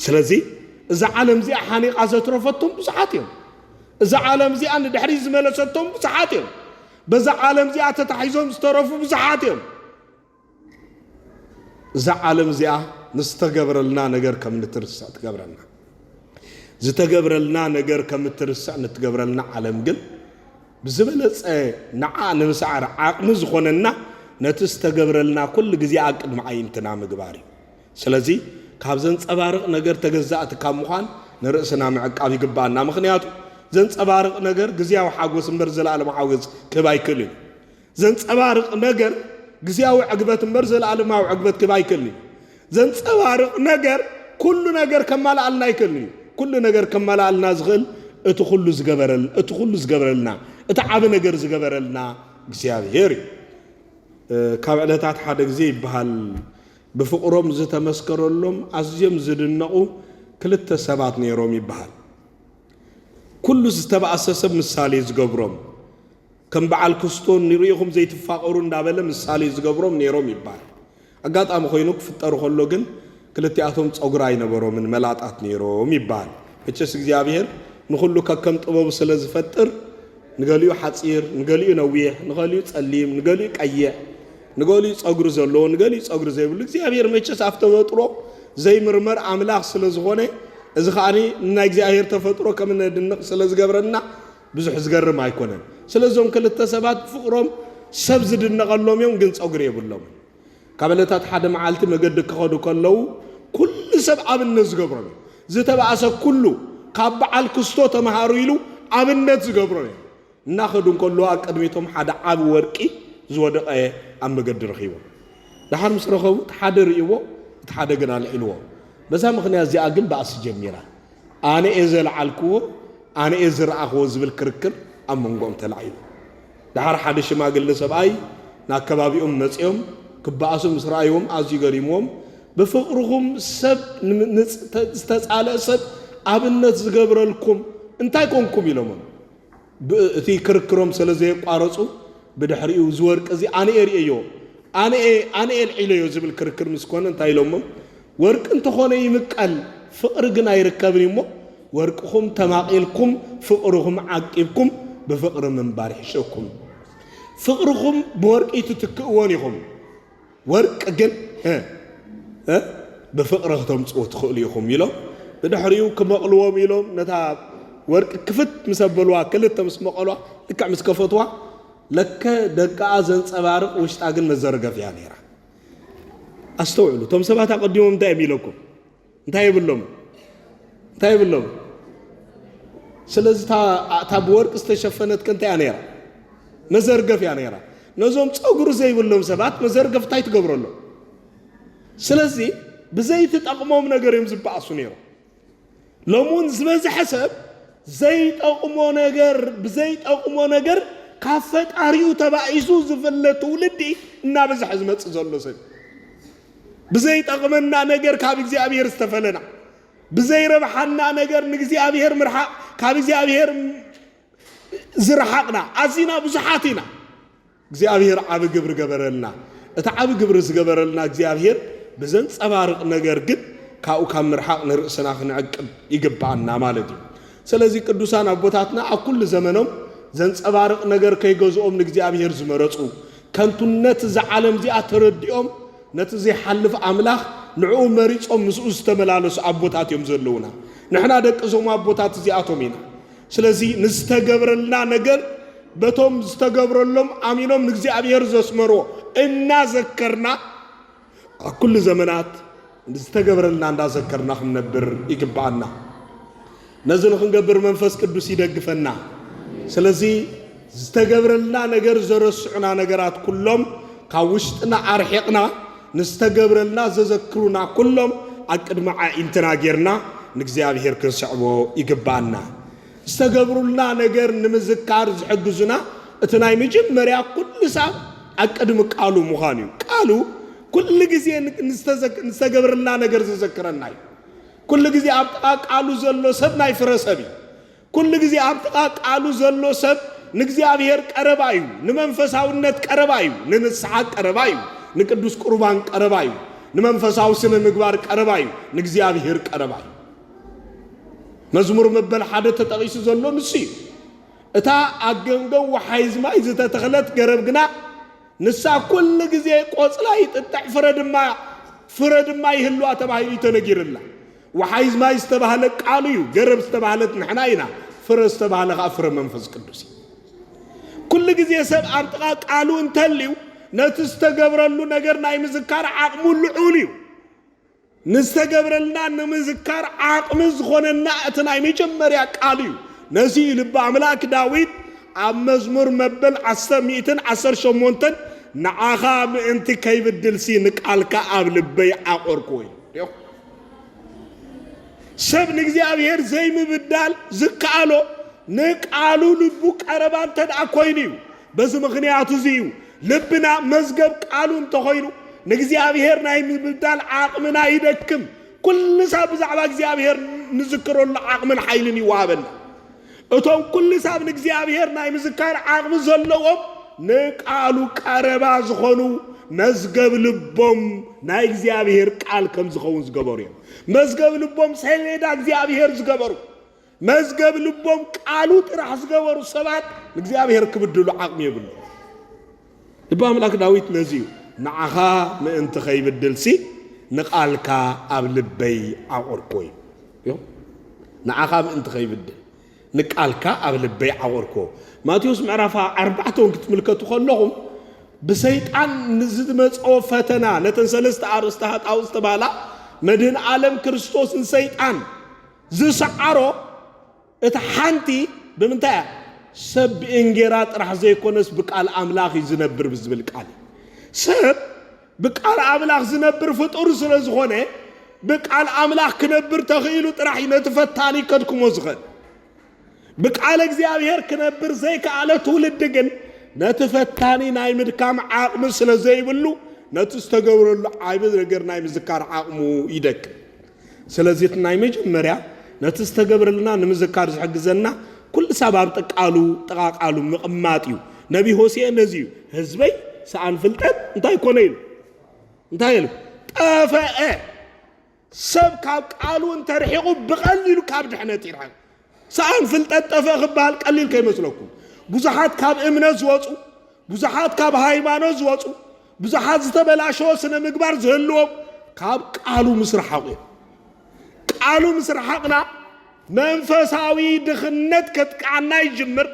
ስለዚ እዛ ዓለም እዚኣ ሓኒቓ ዘትረፈቶም ብዙሓት እዮም። እዛ ዓለም እዚኣ ንድሕሪ ዝመለሰቶም ብዙሓት እዮም። በዛ ዓለም እዚኣ ተታሒዞም ዝተረፉ ብዙሓት እዮም። እዛ ዓለም እዚኣ ንዝተገብረልና ነገር ከም ንትርስዕ ትገብረና ዝተገብረልና ነገር ከም እትርስዕ ንትገብረልና ዓለም ግን ብዝበለፀ ንዓ ንምስዓር ዓቕሚ ዝኾነና ነቲ ዝተገብረልና ኩሉ ግዜ ኣብ ቅድሚ ዓይንትና ምግባር እዩ ስለዚ ካብ ዘንፀባርቕ ነገር ተገዛእቲ ካብ ምዃን ንርእስና ምዕቃብ ይግባኣና ምክንያቱ ዘንፀባርቕ ነገር ግዜያዊ ሓጎስ እምበር ዘለኣለም ሓጎስ ክህብ ኣይክእልን ዘንጸባርቕ ነገር ግዝያዊ ዕግበት እምበር ዘለኣለማዊ ዕግበት ክህብ ኣይክእልን እዩ። ዘንጸባርቕ ነገር ኩሉ ነገር ከማልኣልና ኣይክእልን እዩ። ኩሉ ነገር ከማልኣልና ዝኽእል እቲ ኩሉ ዝገበረል እቲ ኩሉ ዝገብረልና እቲ ዓቢ ነገር ዝገበረልና እግዚኣብሔር እዩ። ካብ ዕለታት ሓደ ግዜ ይበሃል ብፍቕሮም ዝተመስከረሎም ኣዝዮም ዝድነቑ ክልተ ሰባት ነይሮም ይበሃል። ኩሉ ዝተባእሰ ሰብ ምሳሌ ዝገብሮም ከም በዓል ክስቶ ንሪኢኹም ዘይትፋቐሩ እንዳበለ ምሳሌ ዝገብሮም ነይሮም ይባል። ኣጋጣሚ ኮይኑ ክፍጠሩ ከሎ ግን ክልቲኣቶም ፀጉሪ ኣይነበሮምን መላጣት ነይሮም ይባል። መቸስ እግዚኣብሔር ንኹሉ ከከም ጥበቡ ስለ ዝፈጥር ንገሊኡ ሓፂር፣ ንገሊኡ ነዊሕ፣ ንገሊኡ ፀሊም፣ ንገሊኡ ቀይሕ፣ ንገሊኡ ፀጉሪ ዘለዎ፣ ንገሊኡ ፀጉሪ ዘይብሉ እግዚኣብሔር መቸስ ኣብ ተፈጥሮ ዘይምርመር ኣምላኽ ስለ ዝኾነ እዚ ከኣ ንናይ እግዚኣብሔር ተፈጥሮ ከም እነድንቕ ስለ ዝገብረና ብዙሕ ዝገርም ኣይኮነን ስለ እዞም ክልተ ሰባት ብፍቅሮም ሰብ ዝድነቀሎም እዮም ግን ጸጉሪ የብሎምን ካብ እለታት ሓደ መዓልቲ መገዲ ክኸዱ ከለዉ ኩሉ ሰብ ኣብነት ዝገብሮም እዩ ዝተባእሰ ኩሉ ካብ በዓል ክስቶ ተመሃሩ ኢሉ ኣብነት ዝገብሮም እዮም እናኸዱ እንከለዉ ኣብ ቅድሚቶም ሓደ ዓቢ ወርቂ ዝወደቀ ኣብ መገዲ ረኺቦም ደሓር ምስ ረኸቡ እቲ ሓደ ርእይዎ እቲ ሓደ ግን ኣልዒልዎ በዛ ምኽንያት እዚኣ ግን ባእሲ ጀሚራ ኣነ'የ ዘልዓልክዎ፣ ኣነ'የ ዝረኣኽዎ ዝብል ክርክር ኣብ መንጎኦም ተላዒሉ። ደሓር ሓደ ሽማግለ ሰብኣይ ናብ ከባቢኦም መጺኦም ክበኣሱ ምስ ረኣይዎም ኣዝዩ ገሪምዎም፣ ብፍቕርኹም ሰብ ንዝተጻልእ ሰብ ኣብነት ዝገብረልኩም እንታይ ኮንኩም? ኢሎሞም። ብ እቲ ክርክሮም ሰለ ዘየቋረጹ ብድሕሪኡ እዚ ወርቂ እዚ ኣነ'የ ርእየዮ ኣነ'የ ኣነ'የ ኣልዒለዮ ዝብል ክርክር ምስ ኮነ እንታይ ኢሎሞ ወርቂ እንተኾነ ይምቀል ፍቕሪ ግን ኣይርከብን እዩ'ሞ ወርቅኹም ተማቒልኩም ፍቕርኹም ዓቂብኩም ብፍቕሪ ምንባር ይሕሸኩም ፍቕርኹም ብወርቂ ኣይትትክእዎን ኢኹም ወርቂ ግን እ ብፍቕሪ ክተምጽኡ ትኽእሉ ኢኹም ኢሎም ብድሕሪኡ ክመቕልዎም ኢሎም ነታ ወርቂ ክፍት ምስ ኣበልዋ ክልተ ምስ መቐሏ ልክዕ ምስ ከፈትዋ ለከ ደቃኣ ዘንጸባርቕ ውሽጣ ግን መዘርገፊያ ነይራ። ኣስተውዕሉ፣ እቶም ሰባት ኣቐዲሞም እንታይ እዮም ኢለኩም? እንታይ የብሎም እንታይ የብሎም ስለዚ እታ ብወርቂ ዝተሸፈነት ከ እንታይ እያ ነይራ መዘርገፍ እያ ነይራ ነዞም ፀጉሪ ዘይብሎም ሰባት መዘርገፍ እንታይ ትገብረሎም ስለዚ ብዘይትጠቕሞም ነገር እዮም ዝበኣሱ ነይሮም ሎሚ እውን ዝበዝሐ ሰብ ዘይጠቕሞ ነገር ብዘይጠቕሞ ነገር ካብ ፈጣሪኡ ተባኢሱ ዝፍለ ትውልዲ እናበዝሐ ዝመፅእ ዘሎ ሰብ ብዘይጠቕመና ነገር ካብ እግዚኣብሔር ዝተፈለና ብዘይረብሓና ነገር ንእግዚኣብሔር ምርሓቕ ካብ እግዚኣብሔር ዝረሓቕና ኣዚና ብዙሓት ኢና እግዚኣብሔር ዓብ ግብሪ ገበረልና እቲ ዓብ ግብሪ ዝገበረልና እግዚኣብሔር ብዘንፀባርቕ ነገር ግን ካብኡ ካብ ምርሓቕ ንርእስና ክንዕቅብ ይግብኣና ማለት እዩ ስለዚ ቅዱሳን ኣቦታትና ኣብ ኩሉ ዘመኖም ዘንፀባርቕ ነገር ከይገዝኦም ንእግዚኣብሔር ዝመረፁ ከንቱነት እዛ ዓለም እዚኣ ተረዲኦም ነቲ ዘይሓልፍ ኣምላኽ ንዕኡ መሪጾም ምስኡ ዝተመላለሱ ኣቦታት እዮም ዘለዉና። ንሕና ደቂ እዞም ኣቦታት እዚኣቶም ኢና። ስለዚ ንዝተገብረልና ነገር በቶም ዝተገብረሎም ኣሚኖም ንእግዚኣብሔር ዘስመርዎ እናዘከርና ኣብ ኩሉ ዘመናት ንዝተገብረልና እንዳዘከርና ክንነብር ይግብኣና። ነዚ ንክንገብር መንፈስ ቅዱስ ይደግፈና። ስለዚ ዝተገብረልና ነገር ዘረስዑና ነገራት ኩሎም ካብ ውሽጥና ኣርሒቕና ንዝተገብረልና ዘዘክሩና ኩሎም ኣብ ቅድሚ ዓኢንትና ጌርና ንእግዚኣብሔር ክንስዕቦ ይግብኣና። ዝተገብሩልና ነገር ንምዝካር ዝሕግዙና እቲ ናይ መጀመርያ ኩሉ ሳብ ኣቅድሚ ቃሉ ምዃን እዩ። ቃሉ ኩሉ ግዜ ንዝተገብርልና ነገር ዘዘክረና እዩ። ኩሉ ግዜ ኣብ ጥቓ ቃሉ ዘሎ ሰብ ናይ ፍረ ሰብ እዩ። ኩሉ ግዜ ኣብ ጥቓ ቃሉ ዘሎ ሰብ ንእግዚኣብሔር ቀረባ እዩ፣ ንመንፈሳውነት ቀረባ እዩ፣ ንንስሓ ቀረባ እዩ፣ ንቅዱስ ቁርባን ቀረባ እዩ፣ ንመንፈሳዊ ስነ ምግባር ቀረባ እዩ፣ ንእግዚኣብሔር ቀረባ እዩ። መዝሙር መበል ሓደ ተጠቒሱ ዘሎ ንሱ እዩ። እታ ኣብ ገምገም ወሓይዝ ማይ ዝተተኽለት ገረብ ግና ንሳ ኩሉ ግዜ ቆጽላ ይጥጥዕ ፍረ ድማ ፍረ ድማ ይህልዋ ተባሂሉ እዩ ተነጊርላ። ወሓይዝ ማይ ዝተባህለ ቃሉ እዩ፣ ገረብ ዝተባህለት ንሕና ኢና፣ ፍረ ዝተባህለ ከዓ ፍረ መንፈስ ቅዱስ እዩ። ኩሉ ግዜ ሰብ ኣብ ጥቓ ቃሉ እንተልዩ ነቲ ዝተገብረሉ ነገር ናይ ምዝካር ዓቕሙ ልዑል እዩ። ንዝተገብረልና ንምዝካር ዓቕሚ ዝኾነና እቲ ናይ መጀመርያ ቃሉ እዩ። ነዚ እዩ ልቢ ኣምላክ ዳዊት ኣብ መዝሙር መበል ዓሰርተ ሚእትን ዓሰርተ ሸሞንተን ንዓኻ ምእንቲ ከይብድልሲ ንቃልካ ኣብ ልበይ ዓቆርክዎ ኢሉ። ሪኦም ሰብ ንእግዚኣብሔር ዘይምብዳል ዝከኣሎ ንቃሉ ልቡ ቀረባ እንተደኣ ኮይኑ እዩ። በዚ ምኽንያት እዚ እዩ ልብና መዝገብ ቃሉ እንተኾይኑ ንእግዚኣብሔር ናይ ምብዳል ዓቕምና ይደክም። ኩሉ ሳብ ብዛዕባ እግዚኣብሔር ንዝክረሉ ዓቕምን ሓይልን ይወሃበና። እቶም ኩሉ ሳብ ንእግዚኣብሔር ናይ ምዝካር ዓቕሚ ዘለዎም ንቃሉ ቀረባ ዝኾኑ መዝገብ ልቦም ናይ እግዚኣብሔር ቃል ከም ዝኸውን ዝገበሩ እዮም። መዝገብ ልቦም ሰሌዳ እግዚኣብሔር ዝገበሩ መዝገብ ልቦም ቃሉ ጥራሕ ዝገበሩ ሰባት ንእግዚኣብሔር ክብድሉ ዓቕሚ የብሉ ልቢ ኣምላክ ዳዊት ነዚ እዩ ንዓኻ ምእንቲ ከይብድልሲ ንቃልካ ኣብ ልበይ ዓቑርኮ እዩ ንዓኻ ምእንቲ ከይብድል ንቃልካ ኣብ ልበይ ዓቑርኮ ማቴዎስ ምዕራፍ ኣርባዕተ እውን ክትምልከቱ ከለኹም ብሰይጣን ንዝመፀ ፈተና ነተን ሰለስተ ኣርእስተ ሃጣው ዝተባህላ መድህን ዓለም ክርስቶስን ሰይጣን ዝሰዓሮ እታ ሓንቲ ብምንታይ እያ? ሰብ ብእንጌራ ጥራሕ ዘይኮነስ ብቃል ኣምላኽ እዩ ዝነብር ብዝብል ቃል እዩ። ሰብ ብቃል ኣምላኽ ዝነብር ፍጡር ስለ ዝኾነ ብቃል ኣምላኽ ክነብር ተኽኢሉ ጥራሕ እዩ ነቲ ፈታኒ ከድክሞ ዝኽእል። ብቃለ እግዚኣብሔር ክነብር ዘይከኣለ ትውልዲ ግን ነቲ ፈታኒ ናይ ምድካም ዓቕሚ ስለ ዘይብሉ ነቲ ዝተገብረሉ ዓቢ ነገር ናይ ምዝካር ዓቕሙ ይደክም። ስለዚ እቲ ናይ መጀመርያ ነቲ ዝተገብረልና ንምዝካር ዝሕግዘና ኩሉ ሳብ ኣብ ጥቃሉ ጥቓ ቃሉ ምቕማጥ እዩ። ነቢ ሆሴ ነዚ እዩ ህዝበይ ሰኣን ፍልጠት እንታይ ኮነ ኢሉ እንታይ ኢሉ ጠፈአ ሰብ ካብ ቃሉ እንተ ርሒቑ ብቐሊሉ ካብ ድሕነት ይርሕቕ። ሰኣን ፍልጠት ጠፍእ ክበሃል ቀሊል ከይመስለኩም። ብዙሓት ካብ እምነት ዝወጹ፣ ብዙሓት ካብ ሃይማኖት ዝወጹ፣ ብዙሓት ዝተበላሸወ ስነ ምግባር ዝህልዎም ካብ ቃሉ ምስ ረሓቑ እዮም። ቃሉ ምስ ረሓቕና መንፈሳዊ ድኽነት ከጥቅዓና ይጅምር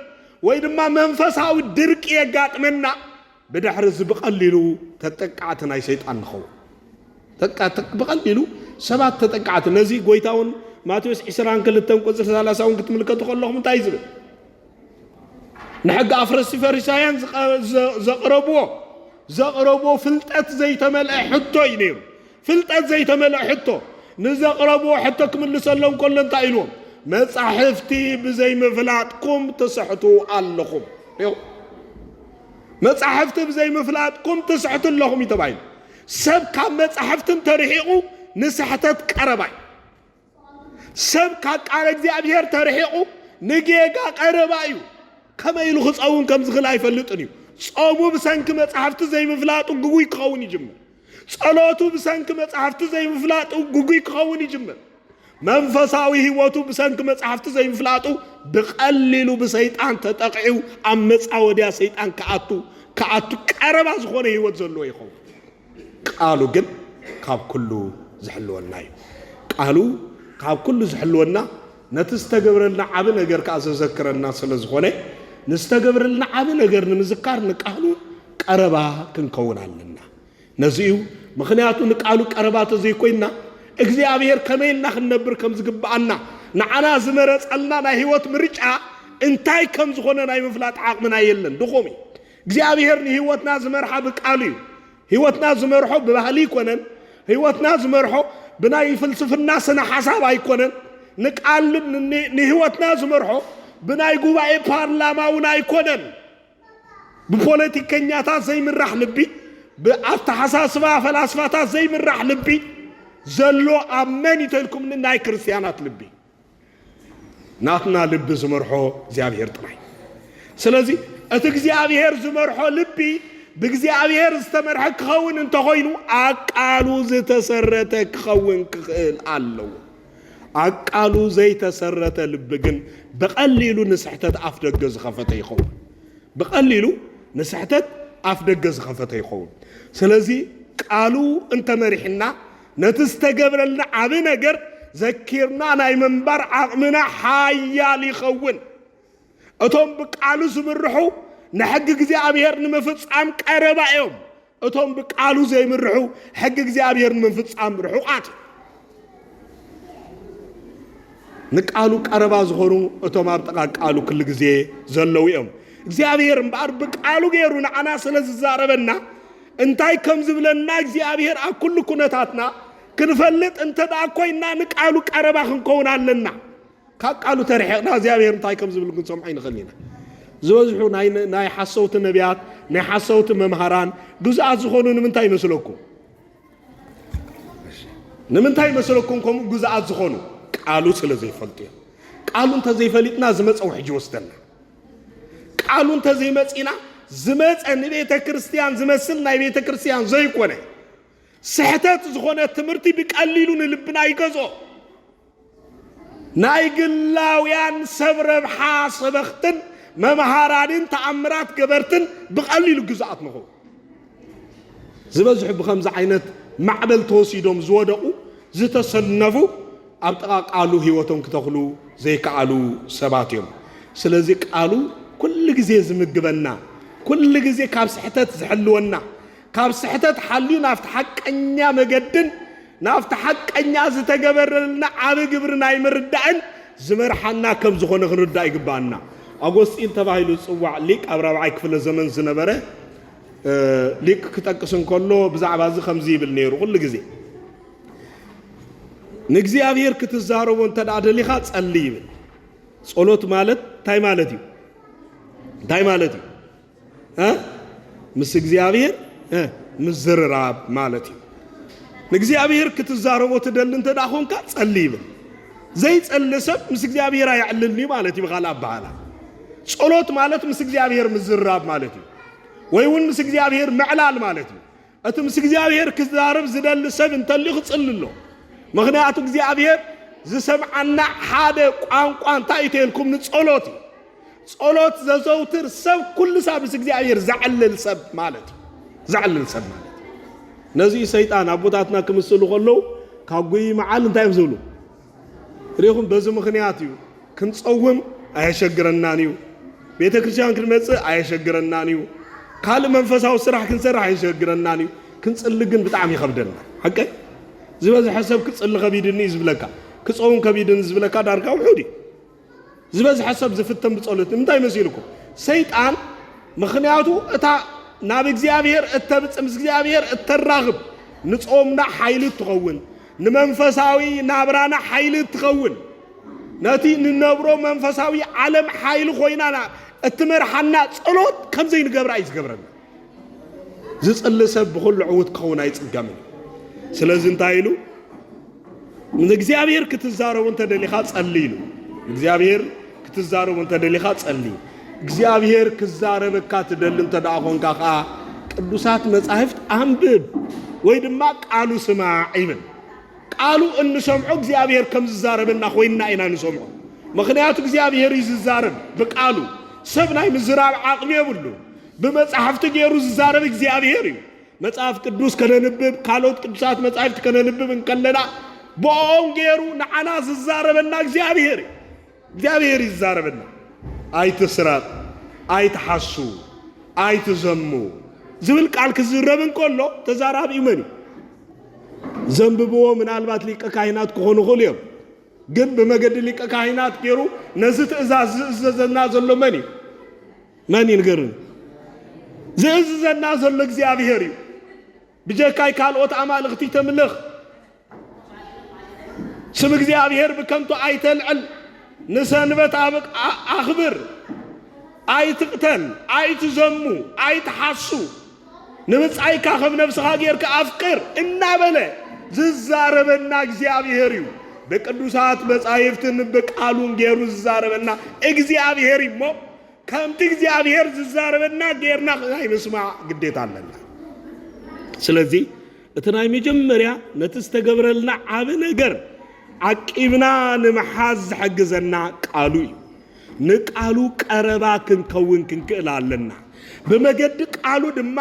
ወይ ድማ መንፈሳዊ ድርቂ የጋጥመና። ብድሕሪ እዚ ብቐሊሉ ተጠቃዕቲ ናይ ሰይጣን ንኸውን። ብቐሊሉ ሰባት ተጠቃዕቲ ነዚ ጎይታ እውን ማቴዎስ ዕስራን ክልተን ቁፅሪ ሰላሳ እውን ክትምልከቱ ከለኹም እንታይ እዩ ዝብል? ንሕጊ ኣፍረስቲ ፈሪሳውያን ዘቕረብዎ ዘቕረብዎ ፍልጠት ዘይተመልአ ሕቶ እዩ ነይሩ። ፍልጠት ዘይተመልአ ሕቶ ንዘቕረብዎ ሕቶ ክምልሰሎም ከሎ እንታይ ኢልዎም? መጻሕፍቲ ብዘይምፍላጥኩም ትስሕቱ ኣለኹም። መጻሕፍቲ ብዘይ ምፍላጥኩም ትስሕቱ ኣለኹም እዩ ተባሂሉ። ሰብ ካብ መጻሕፍቲ እንተርሒቑ ንስሕተት ቀረባ እዩ። ሰብ ካብ ቃል እግዚኣብሔር ተርሒቑ ንጌጋ ቀረባ እዩ። ከመይ ኢሉ ክጸውን ከም ዝኽእል ኣይፈልጥን እዩ። ጾሙ ብሰንኪ መጻሕፍቲ ዘይምፍላጡ ግጉይ ክኸውን ይጅምር። ጸሎቱ ብሰንኪ መጻሕፍቲ ዘይምፍላጡ ግጉይ ክኸውን ይጅምር። መንፈሳዊ ህይወቱ ብሰንኪ መጻሕፍቲ ዘይምፍላጡ ብቐሊሉ ብሰይጣን ተጠቕዒው ኣብ መጻወድያ ሰይጣን ክኣቱ ክኣቱ ቀረባ ዝኾነ ህይወት ዘለዎ ይኸውን። ቃሉ ግን ካብ ኩሉ ዝሕልወና እዩ። ቃሉ ካብ ኩሉ ዝሕልወና ነቲ ዝተገብረልና ዓቢ ነገር ከኣ ዘዘክረና ስለ ዝኾነ ንዝተገብረልና ዓቢ ነገር ንምዝካር ንቃሉ ቀረባ ክንከውን ኣለና። ነዚ እዩ ምኽንያቱ ንቃሉ ቀረባ ተዘይኮይንና እግዚኣብሔር ከመይ ኢልና ክንነብር ከም ዝግብኣና ንዓና ዝመረጸልና ናይ ህይወት ምርጫ እንታይ ከም ዝኾነ ናይ ምፍላጥ ዓቕምና የለን፣ ድኹም እዩ። እግዚኣብሔር ንህይወትና ዝመርሓ ብቃሉ እዩ። ህይወትና ዝመርሖ ብባህሊ ይኮነን። ህይወትና ዝመርሖ ብናይ ፍልስፍና ስነ ሓሳብ ኣይኮነን። ንቃል ንህይወትና ዝመርሖ ብናይ ጉባኤ ፓርላማ እውን ኣይኮነን። ብፖለቲከኛታት ዘይምራሕ ልቢ፣ ብኣተሓሳስባ ፈላስፋታት ዘይምራሕ ልቢ፣ ዘሎ ኣብ መን እዩ ተልኩምኒ ናይ ክርስትያናት ልቢ ናትና ልቢ ዝመርሖ እግዚኣብሔር ጥራይ ስለዚ እቲ እግዚኣብሔር ዝመርሖ ልቢ ብእግዚኣብሔር ዝተመርሐ ክኸውን እንተኾይኑ ኣብ ቃሉ ዝተሰረተ ክኸውን ክኽእል ኣለዎ ኣቃሉ ዘይተሰረተ ልቢ ግን ብቐሊሉ ንስሕተት ኣፍደገ ዝኸፈተ ይኸውን። ብቐሊሉ ንስሕተት ኣፍደገ ዝኸፈተ ይኸውን። ስለዚ ቃሉ እንተመሪሕና ነቲ ዝተገብረልና ዓቢ ነገር ዘኪርና ናይ ምንባር ዓቕምና ሓያል ይኸውን። እቶም ብቃሉ ዝምርሑ ንሕጊ እግዚኣብሔር ንምፍጻም ቀረባ እዮም። እቶም ብቃሉ ዘይምርሑ ሕጊ እግዚኣብሔር ንምፍጻም ርሑቃት እዮም። ንቃሉ ቀረባ ዝኾኑ እቶም ኣብ ጥቓ ቃሉ ክል ግዜ ዘለዉ እዮም። እግዚኣብሔር እምበኣር ብቃሉ ገይሩ ንዓና ስለ ዝዛረበና እንታይ ከም ዝብለና እግዚኣብሔር ኣብ ኩሉ ኩነታትና ክንፈልጥ እንተ ኮይና ንቃሉ ቀረባ ክንከውን ኣለና። ካብ ቃሉ ተርሒቕና እግዚኣብሔር እንታይ ከም ዝብል ክንሰምዖ ይንኽእል ኢና። ዝበዝሑ ናይ ሓሰውቲ ነቢያት ናይ ሓሰውቲ መምሃራን ግዙኣት ዝኾኑ ንምንታይ ይመስለኩም? ንምንታይ ይመስለኩም ከምኡ ግዙኣት ዝኾኑ? ቃሉ ስለ ዘይፈልጡ እዮም። ቃሉ እንተዘይፈሊጥና ዝመፀ ውሕጅ ይወስደና። ቃሉ እንተዘይመፂና ዝመፀ ንቤተ ክርስቲያን ዝመስል ናይ ቤተ ክርስቲያን ዘይኮነ ስሕተት ዝኾነ ትምህርቲ ብቀሊሉ ንልብና ይገዝኦ። ናይ ግላውያን ሰብ ረብሓ ሰበኽትን መምሃራንን ተኣምራት ገበርትን ብቐሊሉ ግዙኣት ንኹን። ዝበዝሑ ብኸምዚ ዓይነት ማዕበል ተወሲዶም ዝወደቑ ዝተሰነፉ ኣብ ጥቓ ቃሉ ህይወቶም ክተኽሉ ዘይከኣሉ ሰባት እዮም። ስለዚ ቃሉ ኩሉ ግዜ ዝምግበና፣ ኩሉ ግዜ ካብ ስሕተት ዝሕልወና፣ ካብ ስሕተት ሓልዩ ናብቲ ሓቀኛ መገድን ናብቲ ሓቀኛ ዝተገበረልና ዓቢ ግብሪ ናይ ምርዳእን ዝመርሓና ከም ዝኾነ ክንርዳእ ይግብኣና። ኣጎስጢን ተባሂሉ ዝጽዋዕ ሊቅ ኣብ ራብዓይ ክፍለ ዘመን ዝነበረ ሊቅ ክጠቅስ እንከሎ ብዛዕባ እዚ ከምዚ ይብል ነይሩ ኩሉ ግዜ ንእግዚኣብሔር ክትዛረቦ እንተ ደሊኻ ጸሊ ይብል። ጸሎት ማለት እንታይ ማለት እዩ? እንታይ ማለት እዩ? ምስ እግዚኣብሔር ምዝርራብ ማለት እዩ ንእግዚኣብሔር ክትዛረቦ ትደሊ እንተ ኮንካ ጸሊ ይብል ዘይጸሊ ሰብ ምስ እግዚኣብሔር ኣየዕልልኒ ማለት እዩ ብካል ኣበሃላ ጸሎት ማለት ምስ እግዚኣብሔር ምዝርራብ ማለት እዩ ወይ እውን ምስ እግዚኣብሔር ምዕላል ማለት እዩ እቲ ምስ እግዚኣብሔር ክዛረብ ዝደሊ ሰብ እንተልዩ ክጽሊ ኣሎ ምክንያቱ እግዚኣብሔር ዝሰምዓና ሓደ ቋንቋ እንታይ እተልኩም ንጸሎት እዩ ጸሎት ዘዘውትር ሰብ ኩሉ ሳብ ምስ እግዚኣብሔር ዘዕልል ሰብ ማለት እዩ ዘዕልል ሰብ ማለት ነዚ ሰይጣን ኣቦታትና ክምስሉ ከለዉ ካብ ጉይ መዓል እንታይ እዮም ዝብሉ ርኢኹም በዚ ምኽንያት እዩ ክንጸውም ኣየሸግረናን እዩ፣ ቤተ ክርስቲያን ክንመጽእ ኣየሸግረናን እዩ፣ ካልእ መንፈሳዊ ስራሕ ክንሰርሕ ኣየሸግረናን እዩ፣ ክንጽሊ ግን ብጣዕሚ ይኸብደና። ሓቀይ ዝበዝሐ ሰብ ክጽሊ ከቢድኒ እዩ ዝብለካ፣ ክጸውም ከቢድኒ ዝብለካ ዳርጋ ውሑድ እዩ። ዝበዝሐ ሰብ ዝፍተን ብጸሎት ንምንታይ መሲልኩም? ሰይጣን ምኽንያቱ እታ ናብ እግዚኣብሔር እተብጽ ምስ እግዚኣብሔር እተራኽብ ንጾምና ሓይሊ እትኸውን ንመንፈሳዊ ናብራና ሓይሊ እትኸውን ነቲ ንነብሮ መንፈሳዊ ዓለም ሓይሊ ኮይናና እትመርሓና ጸሎት ከምዘይንገብራ እዩ ዝገብረና። ዝጽሊ ሰብ ብኹሉ ዕውት ክኸውን ኣይጽገምን። ስለዚ እንታይ ኢሉ ንእግዚኣብሔር ክትዛረቡ እንተደሊኻ ጸሊ ኢሉ እግዚኣብሔር ክትዛረቡ እንተደሊኻ ጸሊ እግዚኣብሔር ክዛረበካ ትደሊ እንተ ደኣ ኾንካ ከዓ ቅዱሳት መጻሕፍት ኣንብብ ወይ ድማ ቃሉ ስማዕ ይብል ቃሉ እንሰምዖ እግዚኣብሔር ከም ዝዛረበና ኮይንና ኢና ንሰምዖ ምክንያቱ እግዚኣብሔር እዩ ዝዛረብ ብቃሉ ሰብ ናይ ምዝራብ ዓቕሚ የብሉ ብመጻሕፍቲ ገይሩ ዝዛረብ እግዚኣብሄር እዩ። መጽሐፍ ቅዱስ ከነንብብ ካልኦት ቅዱሳት መጻሕፍቲ ከነንብብ እንከለና ብኦም ገይሩ ንዓና ዝዛረበና እግዚኣብሄር እዩ። እግዚኣብሄር ይዛረበና ኣይትስረቕ፣ ኣይትሓሱ፣ ኣይትዘሙ ዝብል ቃል ክዝረብ እንከሎ ተዛራቢኡ መን እዩ? ዘንብብዎ ምናልባት ሊቀ ካህናት ክኾኑ ይኽእሉ እዮም። ግን ብመገዲ ሊቀ ካህናት ገይሩ ነዚ ትእዛዝ ዝእዘዘና ዘሎ መን እዩ? መን ይንገርን ዘእዝዘና ዘሎ እግዚኣብሔር እዩ ብጀካይ ካልኦት ኣማልኽቲ ተምልኽ ስም እግዚኣብሔር ብከንቱ ኣይተልዕል ንሰንበት ኣኽብር ኣይትቕተል ኣይትዘሙ ኣይትሓሱ ንብፃይካ ከም ነብስኻ ጌርካ ኣፍቅር እናበለ ዝዛረበና እግዚኣብሔር እዩ ብቅዱሳት መጻሕፍትን ብቃሉን ገይሩ ዝዛረበና እግዚኣብሔር እሞ ከምቲ እግዚኣብሔር ዝዛረበና ጌርና ናይ ምስማዕ ግዴታ ኣለና። ስለዚ እቲ ናይ መጀመርያ ነቲ ዝተገብረልና ዓቢ ነገር ዓቂብና ንምሓዝ ዝሕግዘና ቃሉ እዩ። ንቃሉ ቀረባ ክንከውን ክንክእል ኣለና። ብመገዲ ቃሉ ድማ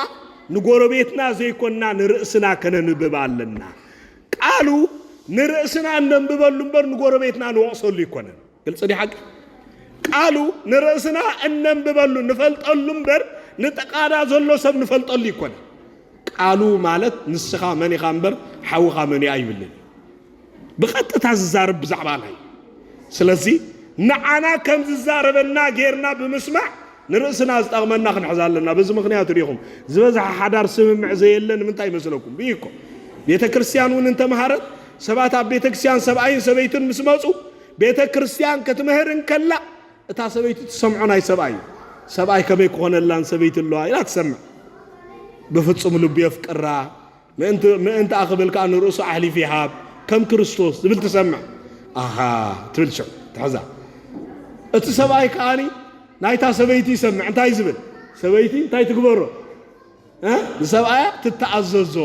ንጎረቤትና ዘይኮንና ንርእስና ከነንብብ ኣለና። ቃሉ ንርእስና እነንብበሉ እምበር ንጎረቤትና ንወቕሰሉ ኣይኮነን። ግልፂ ዲ ሓቂ? ቃሉ ንርእስና እነንብበሉ ንፈልጠሉ እምበር ንጥቃና ዘሎ ሰብ ንፈልጠሉ ይኮነ። ቃሉ ማለት ንስኻ መን ኢኻ እምበር ሓውኻ መን ኣይብልን። ብቐጥታ ዝዛረብ ብዛዕባ ናይ ስለዚ ንዓና ከም ዝዛረበና ጌርና ብምስማዕ ንርእስና ዝጠቕመና ክንሕዝ ኣለና በዚ ምክንያት ሪኢኹም ዝበዝሓ ሓዳር ስምምዕ ዘየለ ንምንታይ ይመስለኩም ብይ እኮ ቤተ ክርስቲያን እውን እንተምሃረት ሰባት ኣብ ቤተ ክርስቲያን ሰብኣይን ሰበይትን ምስ መፁ ቤተ ክርስቲያን ክትምህር እንከላ እታ ሰበይቲ ትሰምዖ ናይ ሰብኣይ እዩ። ሰብኣይ ከመይ ክኾነላን ሰበይቲ ኣለዋ ኢላ ትሰምዕ። ብፍጹም ልቡ የፍቅራ ምእንቲ ኣኽብል ከዓ ንርእሱ ኣሕሊፍ ይሃብ ከም ክርስቶስ ዝብል ትሰምዕ ኣሃ ትብል ሽዑ ትሕዛ እቲ ሰብኣይ ከዓኒ ናይታ ሰበይቲ ይሰምዕ እንታይ ዝብል ሰበይቲ እንታይ ትግበሮ ንሰብኣያ ትተኣዘዞ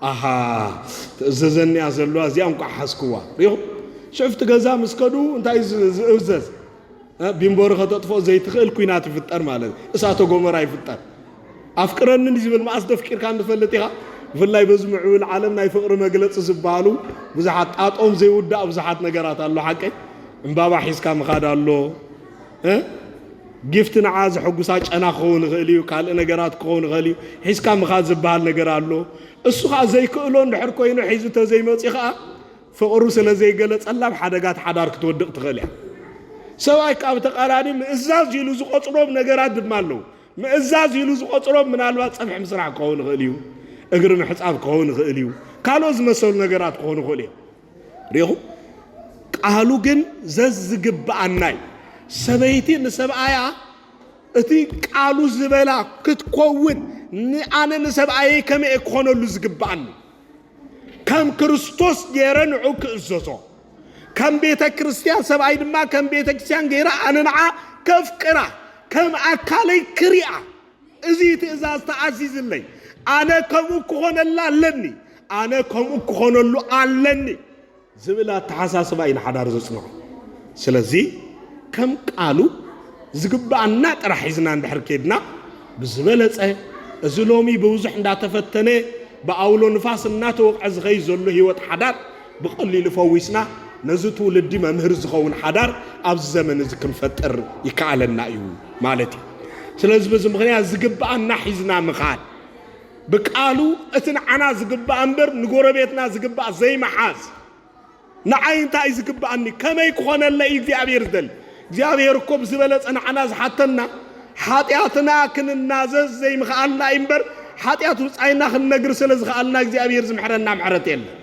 ኣሃ ትእዘዘኒያ ዘለዋ እዚኣ እንቋዕ ሓዝክዋ ሪኹ ሽዑፍቲ ገዛ ምስ ከዱ እንታይ ዝእዘዝ ቢምቦሪ ከተጥፍኦ ዘይትኽእል ኩናት ይፍጠር ማለት እዩ እሳተ ጎመራ ይፍጠር ኣፍቅረኒ ዝብል መኣስ ደፍቂርካ እንፈልጥ ኢኻ ብፍላይ በዚ ምዕብል ዓለም ናይ ፍቕሪ መግለፂ ዝበሃሉ ብዙሓት ጣጦም ዘይውዳእ ብዙሓት ነገራት ኣሎ ሓቀይ እምባባ ሒዝካ ምኻድ ኣሎ ጊፍት ንዓ ዘሐጉሳ ጨና ክኸውን ይኽእል እዩ፣ ካልእ ነገራት ክኸውን ይኽእል እዩ፣ ሒዝካ ምኻድ ዝበሃል ነገር ኣሎ። እሱ ከኣ ዘይክእሎ እንድሕር ኮይኑ ሒዙ ተዘይመጽዩ ከኣ ፍቕሩ ስለ ዘይገለጸላ ኣብ ሓደጋት ሓዳር ክትወድቕ ትኽእል እያ። ሰብኣይ ከኣ ብተቓራኒ ምእዛዝ ኢሉ ዝቖጽሮም ነገራት ድማ ኣለዉ። ምእዛዝ ኢሉ ዝቖጽሮም ምናልባት ጸብሒ ምስራሕ ክኸውን ይኽእል እዩ፣ እግሪ ምሕጻብ ክኸውን ይኽእል እዩ፣ ካልኦት ዝመሰሉ ነገራት ክኾኑ ይኽእሉ እዮም። ርኢኹም ቃሉ ግን ዘዝግብኣና እዩ ሰበይቲ ንሰብኣያ እቲ ቃሉ ዝበላ ክትኮውን ንኣነ ንሰብኣየይ ከመይ እየ ክኾነሉ ዝግብኣኒ ከም ክርስቶስ ገይረ ንዑ ክእዘዞ ከም ቤተ ክርስቲያን ሰብኣይ ድማ ከም ቤተ ክርስቲያን ገይረ ኣነ ንዓ ከፍቅራ ከም ኣካለይ ክሪኣ እዚ ትእዛዝ ተኣዚዝለይ፣ ኣነ ከምኡ ክኾነላ ኣለኒ፣ ኣነ ከምኡ ክኾነሉ ኣለኒ ዝብል ኣተሓሳስባ እዩ ንሓዳር ዘጽንዖ። ስለዚ ከም ቃሉ ዝግብኣና ጥራሕ ሒዝና እንድሕር ኬድና ብዝበለጸ እዚ ሎሚ ብብዙሕ እንዳተፈተነ ብኣውሎ ንፋስ እናተወቕዐ ዝኸይድ ዘሎ ህይወት ሓዳር ብቐሊሉ ፈዊስና ነዚ ትውልዲ መምህር ዝኸውን ሓዳር ኣብዚ ዘመን እዚ ክንፈጥር ይከኣለና እዩ። ማለት እዩ። ስለዚ በዚ ምክንያት ዝግብኣና ሒዝና ምኻድ ብቃሉ እቲ ንዓና ዝግባእ እምበር ንጎረቤትና ዝግባእ ዘይመሓዝ ንዓይ እንታይ ዝግባእኒ ከመይ ክኾነለ እዩ እግዚኣብሔር ዝደሊ እግዚኣብሔር እኮ ብዝበለፀ ንዓና ዝሓተና ሓጢኣትና ክንናዘዝ ዘይምኽኣልና እዩ እምበር ሓጢኣት ውፃይና ክንነግር ስለ ዝኽኣልና እግዚኣብሔር ዝምሕረና ምሕረት የለን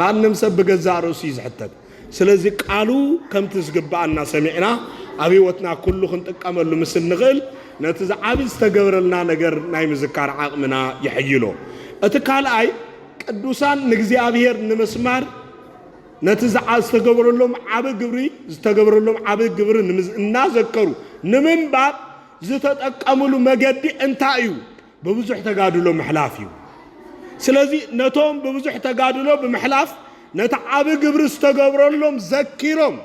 ማንም ሰብ ብገዛእ ርእሱ እዩ ዝሕተት ስለዚ ቃሉ ከምቲ ዝግብኣና ሰሚዕና ኣብ ሕይወትና ኩሉ ክንጥቀመሉ ምስ እንኽእል ነቲ ዝዓቢ ዝተገብረልና ነገር ናይ ምዝካር ዓቕምና የሐይሎ። እቲ ካልኣይ ቅዱሳን ንእግዚኣብሔር ንምስማር ነቲ ዝዓ ዝተገብረሎም ዓቢ ግብሪ ዝተገብረሎም ዓቢ ግብሪ ንምዝ እናዘከሩ ንምንባር ዝተጠቀምሉ መገዲ እንታይ እዩ? ብብዙሕ ተጋድሎ ምሕላፍ እዩ። ስለዚ ነቶም ብብዙሕ ተጋድሎ ብምሕላፍ ነቲ ዓቢ ግብሪ ዝተገብረሎም ዘኪሮም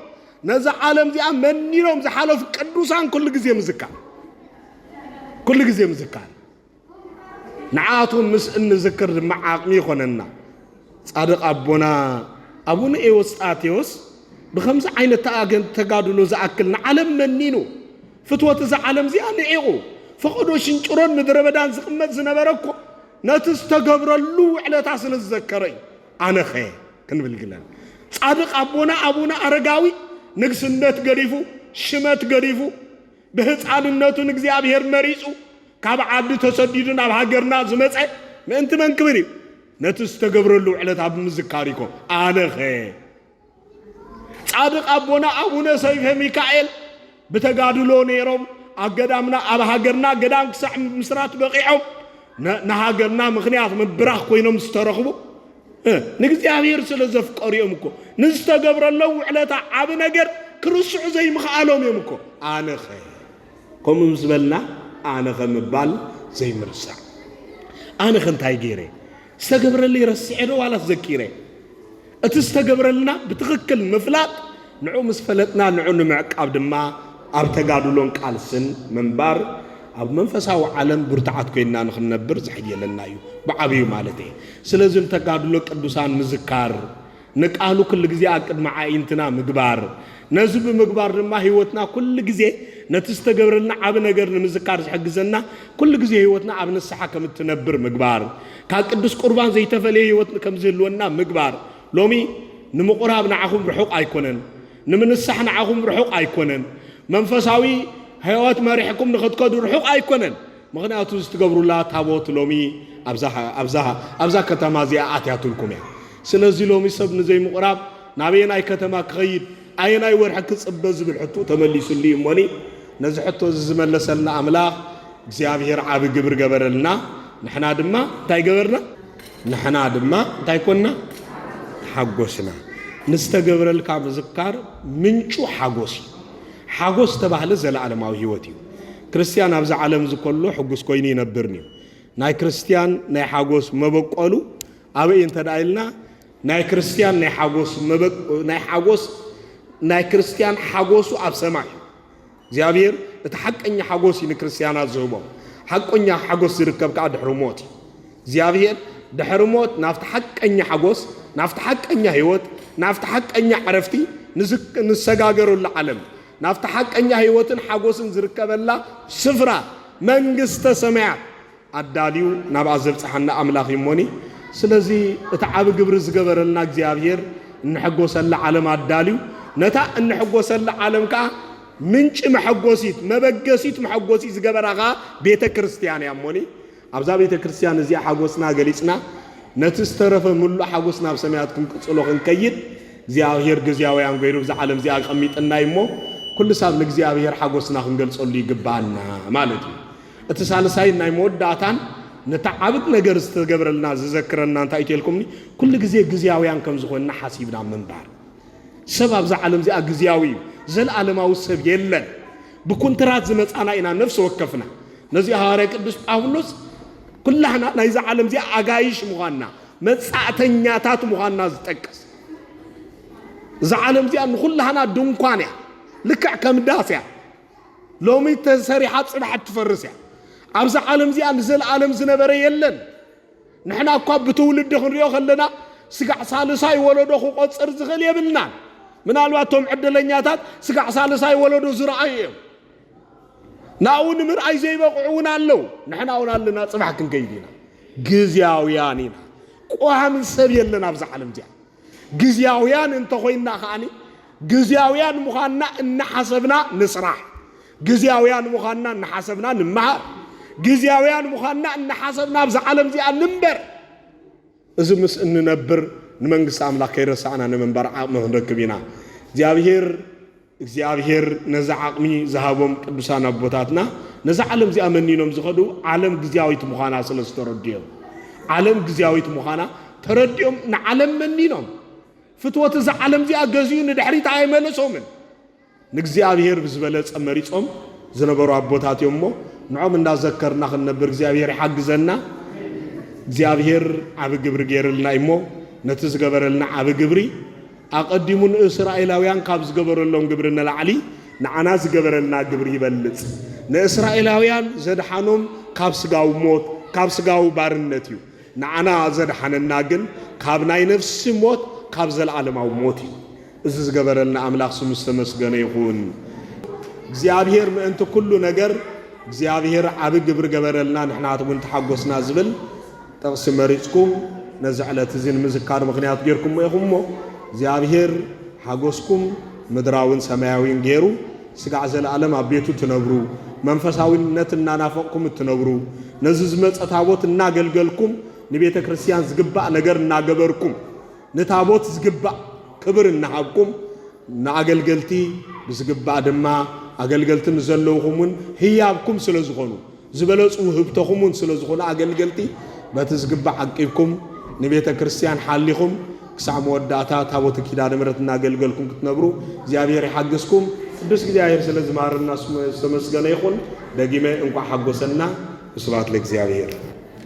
ነዛ ዓለም እዚኣ መኒኖም ዝሓለፉ ቅዱሳን ኩሉ ግዜ ምዝካር ኩሉ ግዜ ምዝካር ንዓቶም ምስ እንዝክር ድማ ዓቕሚ ይኾነና። ጻድቕ ኣቦና ኣቡነ ኤዎስጣቴዎስ ብከምዚ ዓይነት ተጋድሎ ዝኣክል ንዓለም መኒኑ ፍትወት እዛ ዓለም እዚኣ ንዒቑ፣ ፈቐዶ ሽንጭሮን ምድረበዳን ዝቕመጥ ዝነበረ እኮ ነቲ ዝተገብረሉ ውዕለታ ስለ ዝዘከረ እዩ። ኣነኸ? ክንብል ግለን። ጻድቕ ኣቦና ኣቡነ ኣረጋዊ ንግስነት ገዲፉ፣ ሽመት ገዲፉ፣ ብህፃንነቱ ንእግዚኣብሔር መሪጹ ካብ ዓዲ ተሰዲዱ ናብ ሃገርና ዝመጸ ምእንቲ መን ክብል እዩ? ነቲ ዝተገብረሉ ውዕለታ ብምዝካር እዩኮ። ኣነኸ? ጻድቅ ኣቦና ኣቡነ ሰይፈ ሚካኤል ብተጋድሎ ነይሮም ኣብ ገዳምና ኣብ ሃገርና ገዳም ክሳዕ ምስራት በቂዖም ንሃገርና ምክንያት ምብራኽ ኮይኖም ዝተረኽቡ ንእግዚኣብሔር ስለ ዘፍቀሩ እዮም እኮ ንዝተገብረለው ውዕለታ ዓብ ነገር ክርስዑ ዘይምኽኣሎም እዮም እኮ ኣነኸ ከምኡ ምስ በልና ኣነኸ ምባል ዘይምርሳዕ ኣነኸ እንታይ ገይረ ዝተገብረለይ ረሲዐ ዶ ዋላስ ዘኪረ? እቲ ዝተገብረልና ብትኽክል ምፍላጥ፣ ንዑ ምስ ፈለጥና ንዑ ንምዕቃብ ድማ ኣብ ተጋድሎን ቃልስን ምንባር ኣብ መንፈሳዊ ዓለም ብርቱዓት ኮይንና ንኽንነብር ዝሕይለና እዩ፣ ብዓብዩ ማለተይ። ስለዚ ንተጋድሎ ቅዱሳን ምዝካር፣ ንቃሉ ኩሉ ግዜ ኣብ ቅድሚ ዓኢንትና ምግባር፣ ነዚ ብምግባር ድማ ህይወትና ኩሉ ግዜ ነቲ ዝተገብረልና ዓቢ ነገር ንምዝካር ዝሕግዘና ኩሉ ግዜ ህይወትና ኣብ ንስሓ ከም እትነብር ምግባር፣ ካብ ቅዱስ ቁርባን ዘይተፈልየ ህይወት ከም ዝህልወና ምግባር፣ ሎሚ ንምቁራብ ንዓኹም ርሑቅ ኣይኮነን፣ ንምንሳሕ ንዓኹም ርሑቅ ኣይኮነን፣ መንፈሳዊ ህይወት መሪሕኩም ንክትከዱ ርሑቅ ኣይኮነን። ምኽንያቱ እዚ ትገብሩላ ታቦት ሎሚ ኣብዛ ከተማ እዚኣ ኣትያትልኩም እያ። ስለዚ ሎሚ ሰብ ንዘይምቑራብ ናበየናይ ከተማ ክኸይድ፣ ኣየናይ ወርሒ ክጽበ ዝብል ሕትኡ ተመሊሱሉ እዩ እሞኒ ነዚ ሕቶ እዚ ዝመለሰልና ኣምላኽ እግዚኣብሔር ዓቢ ግብሪ ገበረልና ንሕና ድማ እንታይ ገበርና ንሕና ድማ እንታይ ኮንና ተሓጎስና። ንዝተገብረልካ ምዝካር ምንጩ ሓጎስ እዩ። ሓጎስ ዝተባህለ ዘለኣለማዊ ህይወት እዩ። ክርስትያን ኣብዛ ዓለም እዚ ከሎ ሕጉስ ኮይኑ ይነብርን እዩ። ናይ ክርስትያን ናይ ሓጎስ መበቆሉ ኣበይ እንተ ደኣ ኢልና ናይ ክርስትያን ናይ ሓጎስ ናይ ሓጎስ ናይ ክርስትያን ሓጎሱ ኣብ ሰማይ እዩ። እግዚኣብሔር እቲ ሓቀኛ ሓጎስ እዩ ንክርስትያናት ዝህቦም። ሓቀኛ ሓጎስ ዝርከብ ከዓ ድሕሪ ሞት እዩ። እግዚኣብሔር ድሕሪ ሞት ናብቲ ሓቀኛ ሓጎስ፣ ናብቲ ሓቀኛ ህይወት፣ ናብቲ ሓቀኛ ዕረፍቲ ንሰጋገረሉ ዓለም ናብቲ ሓቀኛ ህይወትን ሓጎስን ዝርከበላ ስፍራ መንግስተ ሰማያት ኣዳልዩ ናብኣ ዘብጽሓና ኣምላኽ እዩ እሞኒ ስለዚ እቲ ዓቢ ግብሪ ዝገበረልና እግዚኣብሔር እንሕጎሰላ ዓለም ኣዳልዩ ነታ እንሕጎሰላ ዓለም ከኣ ምንጪ መሐጎሲት መበገሲት መሐጎሲት ዝገበራ ከኣ ቤተ ክርስቲያን እያ እሞኒ ኣብዛ ቤተ ክርስትያን እዚኣ ሓጎስና ገሊጽና ነቲ ዝተረፈ ምሉእ ሓጎስ ናብ ሰማያት ክንቅጽሎ ክንከይድ እግዚኣብሔር ግዝያውያን ገይሩ ብዛ ዓለም እዚኣ ኣቀሚጥናይ እሞ ኩሉ ሳብ ንእግዚኣብሔር ሓጎስና ክንገልጸሉ ይግባና ማለት እዩ። እቲ ሳልሳይን ናይ መወዳእታን ነታ ዓብት ነገር ዝተገብረልና ዝዘክረና እንታይ እቴልኩምኒ ኩሉ ግዜ ግዝያውያን ከም ዝኾንና ሓሲብና ምንባር። ሰብ ኣብዛ ዓለም እዚኣ ግዝያዊ እዩ፣ ዘለዓለማዊ ሰብ የለን። ብኩንትራት ዝመጻና ኢና ነፍሲ ወከፍና። ነዚ'ዩ ሃዋርያ ቅዱስ ጳውሎስ ኩላህና ናይዛ ዓለም እዚኣ ኣጋይሽ ምዃንና መጻእተኛታት ምዃንና ዝጠቅስ። እዛ ዓለም እዚኣ ንኹላህና ድንኳን እያ፣ ልክዕ ከም ዳስ እያ። ሎሚ ተሰሪሓ ጽባሕ እትፈርስ እያ። ኣብዛ ዓለም እዚኣ ንዘለኣለም ዝነበረ የለን። ንሕና እኳ ብትውልዲ ክንሪኦ ከለና ስጋዕ ሳልሳይ ወለዶ ክቆጽር ዝኽእል የብልናን። ምናልባት እቶም ዕድለኛታት ስጋዕ ሳልሳይ ወለዶ ዝረኣዩ እዮም። ናብኡ ንምርኣይ ዘይበቕዑ እውን ኣለዉ። ንሕና እውን ኣለና፣ ጽባሕ ክንከይድ ኢና። ግዝያውያን ኢና። ቋሚ ሰብ የለን ኣብዛ ዓለም እዚኣ። ግዝያውያን እንተ ኾይንና ከኣኒ ግዝያውያን ምዃንና እናሓሰብና ንስራሕ፣ ግዝያውያን ምዃንና እናሓሰብና ንመሃር፣ ግዝያውያን ምዃንና እናሓሰብና ኣብዛ ዓለም እዚኣ ንንበር። እዚ ምስ እንነብር ንመንግስቲ ኣምላኽ ከይረሳዕና ንምንባር ዓቕሚ ክንረክብ ኢና። እግዚኣብሄር እግዚኣብሄር ነዚ ዓቕሚ ዝሃቦም ቅዱሳን ኣቦታትና ነዛ ዓለም እዚኣ መኒኖም ዝኸዱ ዓለም ግዝያዊት ምዃና ስለ ዝተረድኦም ዓለም ግዝያዊት ምዃና ተረዲኦም ንዓለም መኒኖም ፍትወት እዛ ዓለም እዚኣ ገዚኡ ንድሕሪት ኣይመለሶምን ንእግዚኣብሄር ብዝበለጸ መሪጾም ዝነበሩ ኣቦታት እዮም እሞ ንዖም እንዳዘከርና ክንነብር እግዚኣብሄር ይሓግዘና እግዚኣብሄር ዓብ ግብሪ ገይርልና እሞ ነቲ ዝገበረልና ዓብ ግብሪ ኣቐዲሙ ንእስራኤላውያን ካብ ዝገበረሎም ግብሪ ንላዕሊ ንዓና ዝገበረልና ግብሪ ይበልጽ። ንእስራኤላውያን ዘድሓኖም ካብ ስጋዊ ሞት፣ ካብ ስጋዊ ባርነት እዩ። ንዓና ዘድሓነና ግን ካብ ናይ ነፍሲ ሞት፣ ካብ ዘለኣለማዊ ሞት እዩ። እዚ ዝገበረልና ኣምላኽ ስሙ ዝተመስገነ ይኹን። እግዚኣብሄር ምእንቲ ኩሉ ነገር እግዚኣብሄር ዓቢ ግብሪ ገበረልና ንሕናትውን ተሓጎስና ዝብል ጥቕሲ መሪጽኩም ነዚ ዕለት እዚ ንምዝካር ምኽንያት ጌርኩሞ ኢኹም እሞ፣ እግዚኣብሄር ሓጎስኩም ምድራዊን ሰማያዊን ገይሩ ስጋዕ ዘለኣለም ኣብ ቤቱ እትነብሩ፣ መንፈሳዊነት እናናፈቕኩም እትነብሩ፣ ነዚ ዝመጸ ታቦት እናገልገልኩም ንቤተ ክርስቲያን ዝግባእ ነገር እናገበርኩም፣ ንታቦት ዝግባእ ክብር እናሃብኩም፣ ንኣገልገልቲ ብዝግባእ ድማ ኣገልገልቲ ንዘለውኹም እውን ህያብኩም ስለ ዝኾኑ፣ ዝበለጹ ውህብቶኹም እውን ስለ ዝኹኑ ኣገልገልቲ በቲ ዝግባእ ዓቂብኩም ንቤተ ክርስቲያን ሓሊኹም ክሳዕ መወዳእታ ታቦተ ኪዳነ ምሕረት እናገልገልኩም ክትነብሩ እግዚኣብሔር ይሓግዝኩም። ቅዱስ እግዚኣብሔር ስለ እዚ ማርና ስሙ ዝተመስገነ ይኹን። ደጊመ እንኳዕ ሓጎሰና። ወስብሐት ለእግዚኣብሔር።